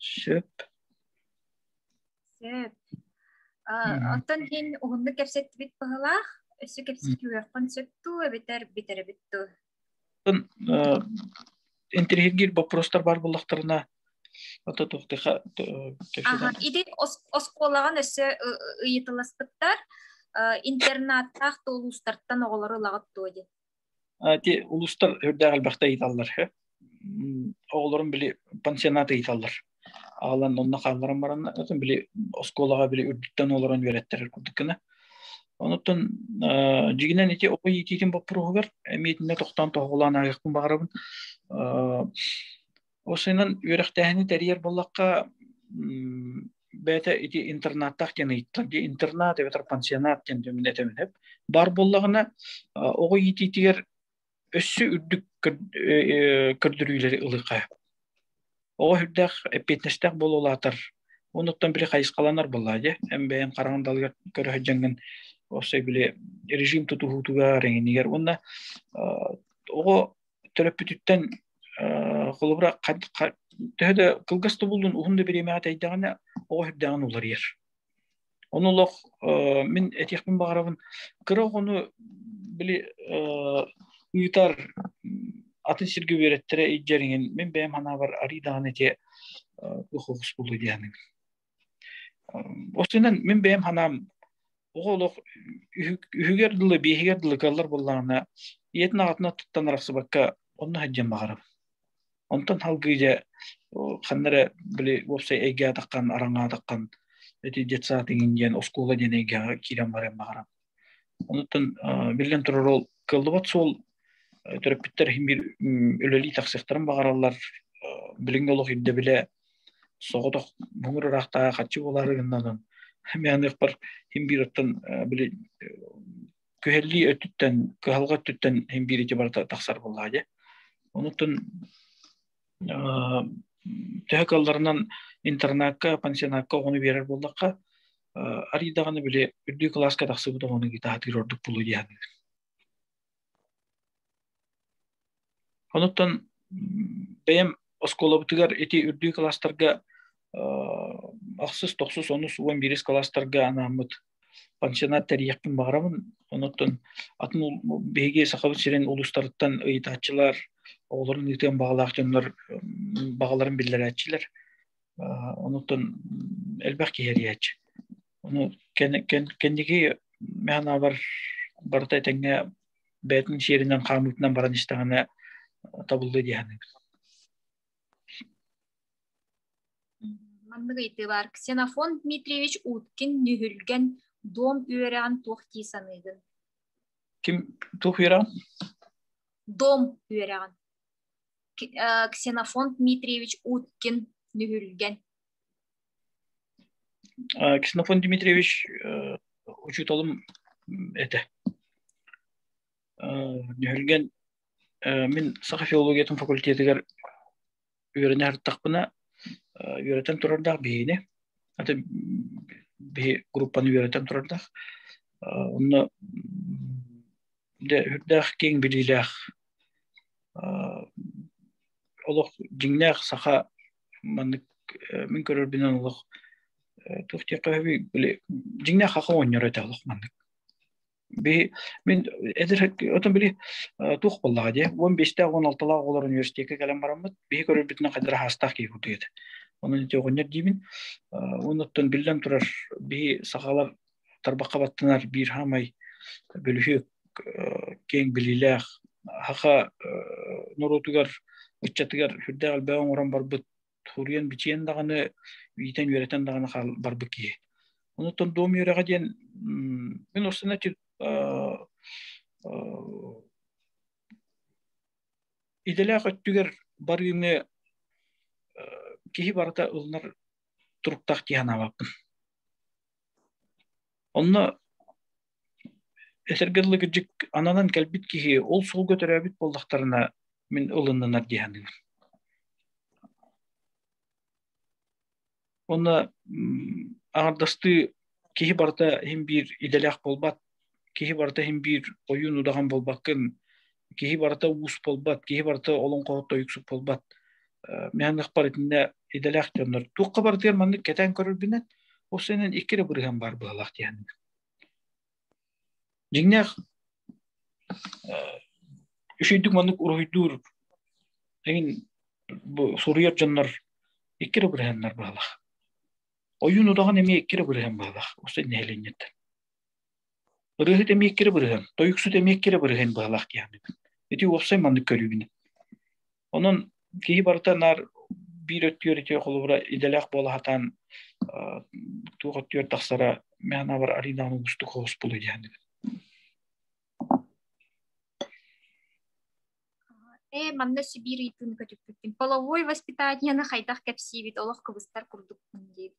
Сөп. Сөп. Оттон иһин уһуннук кэпсэттибит баһылаах, өссө кэпсэтиэхпин сөп дуу, эбэтэр бүтэрбит дуу? Интриһиргиир боппурустар бар буллахтарына, ото тухтыха төсөдөн. Ити оскуолаҕан өссө ыйытыласпыттар интернаттаах туолуустартан оҕолору ылаҕыт дуо дии? Те улустар үрдээх элбэхтэ ыйталлар. Оҕолорум били пансионат ыйталлар. Аалан онно хаалларан баран били оскуолаҕа били үрдүттэн олорон үөрэттэрэр курдук гына. Онуттан дьигинэн ити оҕо иитиитин боппуруоһугар эмиэтинэ тохтоон тоһоҕолоон аайахпын баҕарабын Ол сынан үөрэхтээһини тэрийэр буоллахха, бэйэтэ ити интернаттаах диэн ыйыттар дии интернат эбэтэр пансионат диэн дэмин этэминэп бар боллаҕына оҕо иитиитигэр өссө үрдүк көрдөрүүлэри ылыха оҕо үрдээх эппиэтинэстээх болулаатар онуттан били хайысхаланар болла дьэ эн бэйэн хараҥын далыгар көрө сылдьаҥҥын осы били режим тутуһуутугар эҥинигэр уонна оҕо төрөппүтүттэн холобура төһө да кылгас тобуллун уһун да бириэмэҕэ тэйдэҕинэ оҕо үрдэҕин уларыйар Оны олох мин этиэхпин баҕарабын кыра оҕону били ыытар атын сиргэ үөрэттэрэ илдьэриҥин мин бэйэм ханаабар арыйдаҕын этиэ охоҕус булу диэхниҥ Осынан мен бэйэм ханам оҕо олох үһүгэр дылы биэһигэр дылы кыаллар буллаҕына ийэтин аҕатына туттан арахсыбакка онно сылдьан баҕарам онтон халгыйа ханна эрэ били уопсай эйгэ атаххан араҥа атаххан эти детсад иҥин диэн оскуола диэн эйгэҕэ киирэн баран баҕарам Онтон биллэн турар ол кыллыбат суол төрөппүттэр иһин биир үлэлии тахсыахтарын баҕараллар билиҥҥи олох ирдэбилэ соҕотох муҥур ыраахтааҕа хаччы буолары гыннанан мээныахпар хим биир оттон били күһэллии өттүттэн кыһалҕа өттүттэн хим биир ити барыта тахсар буоллаа дьэ онутун Төһө кыалларынан интернакка, пансионатка оҕону биэрэр буоллахха, арый даҕаны били үрдүү кылааска тахсыбыт оҕону гитаһатыыр ордук буолуо диэхтиир. Онуттан бэйэм оскуолабытыгар ити үрдүү кылаастарга охсус, тохсус, онус, уон биирис кылаастарга анааммыт пансионат тэрийиэхпин баҕарабын. Онуттан атын биһиги Сахабыт сирин улуустарыттан ыйытааччылар, оҕолорун ыытыан баҕалаах дьоннор баҕаларын биллэрээччилэр. Онуттан элбэх киһи эрийээччи. Ону кэнники мээнэбэр барыта этэҥҥэ бэйэтин сиэринэн хаамыытынан баран истэҕинэ табыллыы диэхэнэ Маннык ыйытыылар Ксенофонт Дмитриевич Уткин Нүһүлгэн дом үөрэҕин туох дии саныыгын? Ким туох үөрэҕин? Дом үөрэҕин. Ксенофонт Дмитриевич Уткин Нүһүлгэн. Ксенофонт Дмитриевич учууталым этэ. Нүһүлгэн мин саха филологиятын факультетыгар үөрэнэ артахпына үөрэтэн турардаах биһиини аты биһи группаны үөрэтэн турардаах онно үрдээх киэҥ билиилээх олох дьиҥнээх саха маннык мин көрөрбүнэн олох туох диэххэ сөбүй дьиҥнээх саха оҕонньоро этэ олох маннык Би мин эдэр отон били тух боллаҕа дии уон биэстээх уон алталаах оҕолор университекка кэлэн бараммыт биһи көрөрбүтүнэн хайдара хаастаах киһи кутуй этэ онон ити оҕонньор диибин онуттан биллэн турар биһи сахалар тарбахха баттанар биир хаамай бөлүһүөк киэҥ билиилээх хаха норуотугар ыччатыгар үрдээх элбэҕи оҥорон барбыт туруйан бичиэн даҕаны иитэн үөрэтэн даҕаны барбыт киһи онуттан дом үөрэҕэ диэн мин осына идэлээх өттүгэр барыыны киһи барыта ылынар туруктаах дии санаабаппын Онно этэргэ дылы кырдьык ананан кэлбит киһи ол суолга төрөөбүт буоллахтарына мин ылыннанар дии саныыбын. Онно аҥардастыы киһи барыта иһин биир идэлээх буолбат киһи барыта иһин биир ойуун удаҕан буолбаккын киһи барыта уус буолбат киһи барыта олоҥхо тойуксук буолбат мээнэхпар итиннэ идэлээх дьоннор туохха барытыгар маннык кэтээн көрөрбүнэн ол сэнэн икки да бырыһан баар быһалаах диэхэним дьиҥнээх үчүйдүк маннык уруһуйдуур эҥин бу суруйар дьоннор икки да бырыһаннар быһалаах ойуун удаҕан эмиэ икки да бырыһан быһалаах осы нэһилиэнньэттэн Ырыаһыт эмиэккирэ бырыһын, тойуксут эмиэккирэ бырыһын быһалаах киһибин. Ити уопсай маннык көрүүбүн. Онон киһи барыта наар биир өттүгэр ити холобура идэлээх буола хатаан туох өттүгэр тахсара мээнабар аринаан угустук хоос булуй диһэндибин. Э, манна Сибиир ыйытыыны көтүппүттүн. Половой воспитанияны хайдах кэпсиибит, олох кыбыстар курдукпун диэбит.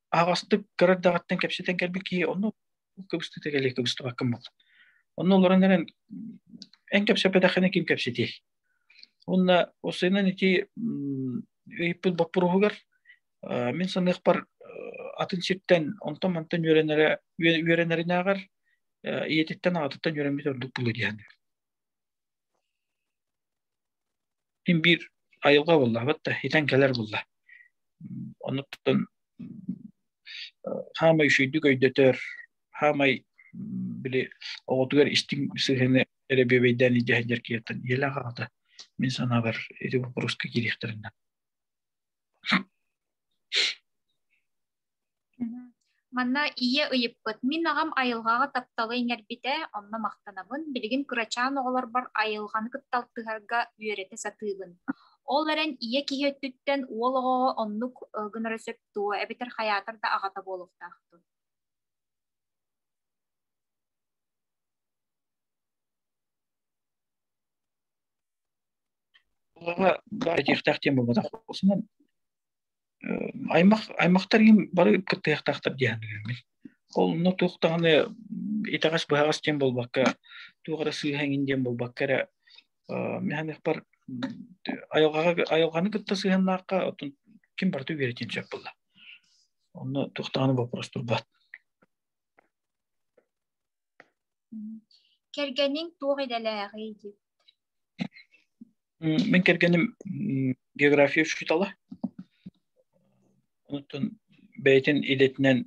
аҕастык кыра эрдэҕиттэн кэпсэтэн кэлбит киһи онно кыбыстыта кэлии кыбыстыбаккын буолла. Онно олорон эрэн эн кэпсэппэтэххинэ ким кэпсэтиэй? Уонна осыынан ити ыйыппыт боппуруһугар мин саныахпар атын сиртэн онтон мантан үөрэнэрэ үөрэнэринээҕэр ийэтиттэн аҕатыттан үөрэммит ордук буолуо диэн. Мин биир айылҕа буллаабыт да, итэн кэлэр булла. Онуттан хаамай үчүгэйдик өйдөтөр, хаамай били оҕотугар истиҥ сыһыаны эрэ бүөбэйдээн илдьэ сылдьар киһиттэн ийэлээх аҕата мин санаабар ити боппуруоска киириэхтэринэн. Манна ийэ ыйыппыт, мин аҕам айылҕаҕа тапталы иҥэрбитэ, онно махтанабын. Билигин кырачаан оҕолорбор айылҕаны кытта алтыһарга үөрэтэ сатыыбын. Ол эрэн ийэ киһи өттүттэн уол оҕоҕо оннук гынара сөп дуо, эбэтэр хайаатар да аҕата буолуохтаахтын? Баара диэхтээх диэн буолбатах буолсунан аймах аймахтар бары кыттыахтаахтар диэн ол онно туох даҕаны итэҕэс быһаҕас диэн буолбакка туох эрэ сыыһа эҥин диэн буолбакка эрэ механихпар айылҕаҕа айылҕаны кытта сыһыаннаахха оттон ким барыта үөрэтиэн сөп буолла онно туох даҕаны боппуруос турбат Кэргэниҥ туох идэлээҕий дии? Мин кэргэним география учуутала. Оттон бэйэтин идэтинэн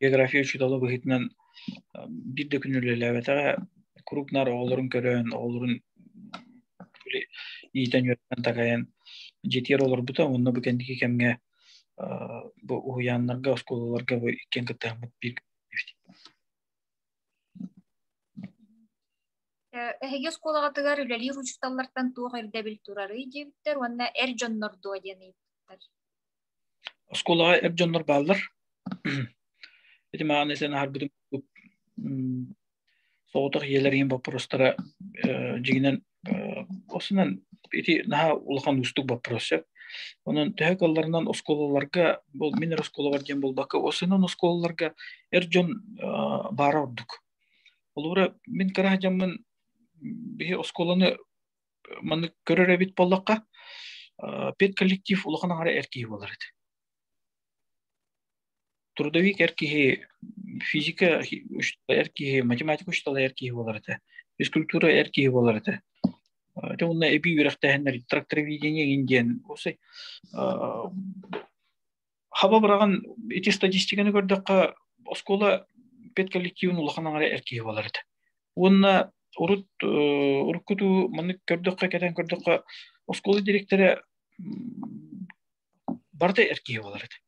география учуутала быһыытынан биир да күн үлэлээбэтэҕэ куруук наар оҕолорун көрөн, оҕолорун иитэн-үөрэтэн, дагайан дьитиэр олорбута. Онно бу кэнники кэмҥэ бу уһуйааннарга, оскуолаларга бу иккиэн кыттыһаммыт биир Эһиги оскуолаҕытыгар үлэлиир учууталлартан туох ирдэбил турарый диэбиттэр уонна эр дьоннор дуо диэн ыйыппыттар. Оскуолаҕа эр дьоннор бааллар. Ити мааны сен аһарбытым соҕотох ийэлэр иһин боппуруостара дьиҥинэн осынан ити наһаа улахан уустук боппуруос сөп онон төһө кылларынан оскуолаларга мин эр оскуолабар диэн буолбакка осынан оскуолаларга эр дьон баара ордук олура мин кыра дьаммын биһи оскуоланы маны көрөр эбит боллохха педколлектив улахан аҥара эр киһи буолар этэ трудовик эр киһи, физика учиталайар киһи, математика учиталайар киһи буолар этэ, физкультура эр киһи буолар этэ. Ити уонна эбии үөрэхтээһиннэр трактороведение эҥин диэн осай хаба быраҕан ити статистиканы көрдөххө оскуола педколлективын улахан аҥара эр киһи буолар этэ. Уонна урут уруккуту маннык көрдөххө кэтэн көрдөххө оскуола директора барыта эр киһи буолар этэ.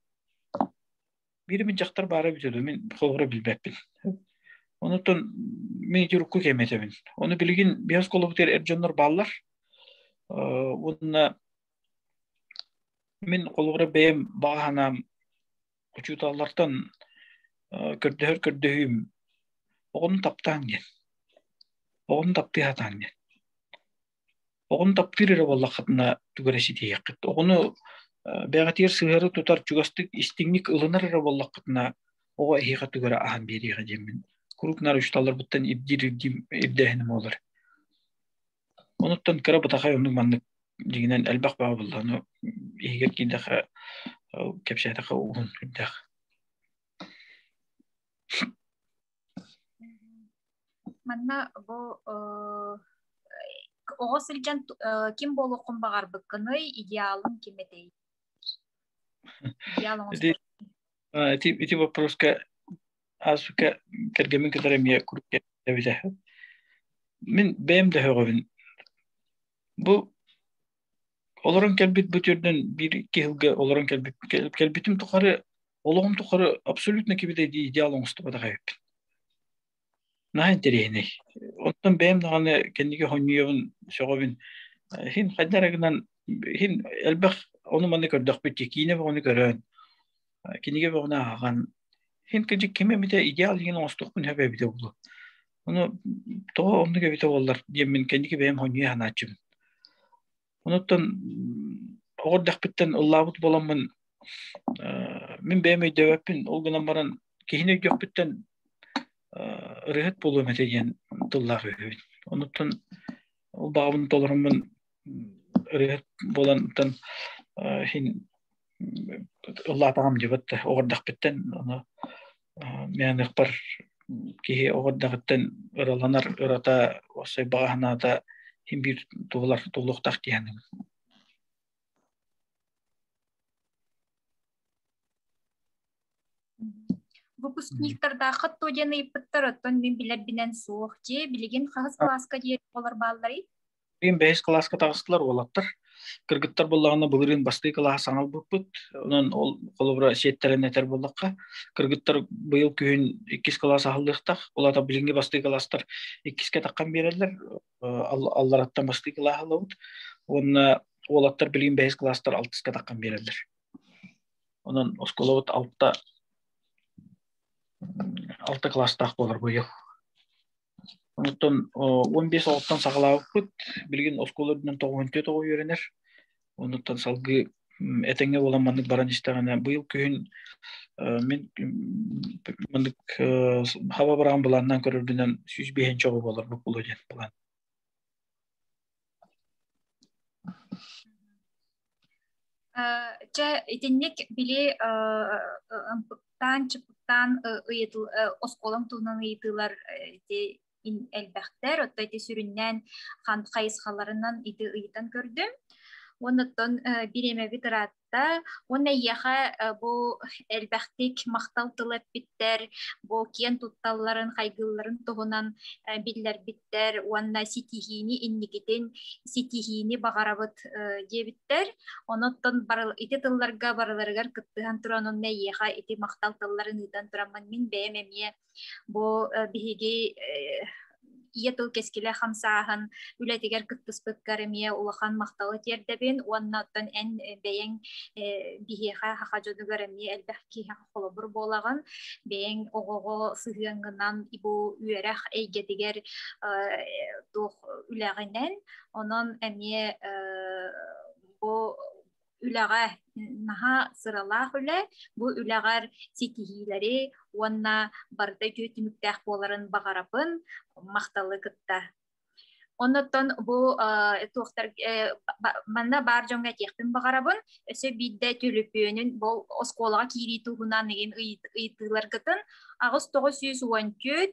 Биир мин дьахтар баара бүтөдө мин холобура билбэппин. Онутан мен эти урукку кэметэбин. Оны билигин биһас колобутер эр дьоннор бааллар. Уонна мен холобура бэйэм бааһанаам учууталлартан көрдөһөр көрдөһүүм оҕону таптааҥ диэн. Оҕону таптыы хатааҥ диэн. Оҕону таптыыр эрэ буоллаххытына тугу эрэ ситиһиэххит. Оҕону бэҕэтиэр сыһыары тутар чугастык истиҥник ылынар эрэ буоллаххытына оҕо эһиэхэ тугу эрэ аһан биэриэҕэ диэммин куруук нары учууталларбыттан ирдиир ирдиим ирдээһиним буолар. Онуттан кыра бытахай оннук маннык дьиҥинэн элбэх баҕа буоллану иһигэр киирдэхэ кэпсээтэхэ уһун үрдээх Манна бу оҕо сылдьан ким буолуоххун баҕарбыккыный, идеалың ким этэй? Идеал ити, ити вопроска аасука тергемин кытары эмиэ курке эбитэ. Мин бэйэм дөһөҕөбүн. Бу Олорон кэлбит бу түрдөн биир икки yılга олорон кэлбит кэлбитим тухары олоҕум тухары абсолютно кибитэй дии идеал оҥостубатах эбиппин. Наһаа интэриэһинэй. Оттон бэйэм даҕаны кэнники хонньуйабын, сөҕөбүн. Хин хайда эрэ гынан хин элбэх ону-маны көрдөхпүт ки киинэ бөҕөнү көрөн, кинигэ бөҕөнү ааҕан, хин кыдьык ким эмитэ идеал диэн оҥостухпун сөп эбитэ буолуо. Ону тоҕо оннук эбитэ буоллар диэммин кэнники бэйэм хоньуйа санааччыбын. Онуттан оҕордахпыттан ыллаабыт боламмын мин бэйэм өйдөөбөппүн ол гынан баран киһини өйдөхпүттэн ырыаһыт буолуом этэ диэн тыллаах үһүбүн. Онуттан ол баҕабын толоруммун ырыат болантан хин ыллаатаҕам дьыбыт оҕордахпыттан аны мээнэхпар киһи оҕордахыттан ыраланар ырата осой баҕаһанаата хин биир туолар туолуохтаах диэн выпускниктардаахха то диэн ыйыппыттар оттон мин билэрбинэн суох дьиэ билигин хас кылааска диэри олор баалларый Билигин бэһис кылааска таҕыстылар уолаттар. Кыргыттар буоллаҕына былырыын бастыы кылааһа саҥа албыппыт. Онон ол холобура сиэттэрэн этэр буоллахха, кыргыттар быйыл күһүн иккис кылаас аһыллыахтах. Улаата билиҥҥи бастыы кылаастар иккискэ таххан биэрэллэр. Аллараттан бастыы кылаас аһыллабыт. Уонна уолаттар билигин бэһис кылаастар алтыска таххан биэрэллэр. Онон оскуолабыт алта алта кылаастаах буолар быйыл. Оттон он бес оҕуттан саҕалаабыппыт. Билигин оскуола үрдүнэн тоҕуһун түө тоҕу үөрэнэр. Онуттан салгыы этэҥҥэ буолан маннык баран истэҕинэ быйыл күһүн мин маннык хаба быраҕан былааннаан көрөрбүнэн сүүс биэһинчэ оҕо буоларбыт буолуо диэн план. Чэ, итинник били ымпыктаан, чыпыктаан оскуолам туһунан ыйытыылар ити элбэхтэр, отто ити сүрүннээн хайысхаларынан ити ыйытан көрдүм. Онуттан бириэмэбит ыраатта Уонна ийэхэ бу элбэхтик махтал тыл эппиттэр, бу киэн тутталларын, хайгыылларын туһунан биллэрбиттэр уонна ситиһиини инникитин ситиһиини баҕарабыт диэбиттэр. Оноттон ити тылларга барыларыгар кыттыһан туран онно ийэхэ ити махтал тылларын ыытан туран мин бэйэм эмиэ Бу биһиги ийэ тыл кэскилэ хамсааһын үлэтигэр кыттыспыккар эмиэ улахан махталы тиэрдэбин уонна оттон эн бэйэң биһиэхэ хаха дьонугар эмиэ элбэх киһиэхэ холобур буолаҕын бэйэң оҕоҕо сыһыаҥҥынан бу үөрэх эйгэтигэр туох үлэҕинэн онон эмиэ бу үлэҕэ наһаа сыралаах үлэ бу үлэҕэр ситиһиилэри уонна барыта үтүө түмүктээх буоларын баҕарабын махталы кытта оннуттан бу туохтар манна баар дьоҥҥо этиэхпин баҕарабын өссө биирдэ төлөпүөнүн бұл оскуолаға киирии туһунан иген ыйтыыларгытын аҕыс тоғыз жүз он төрт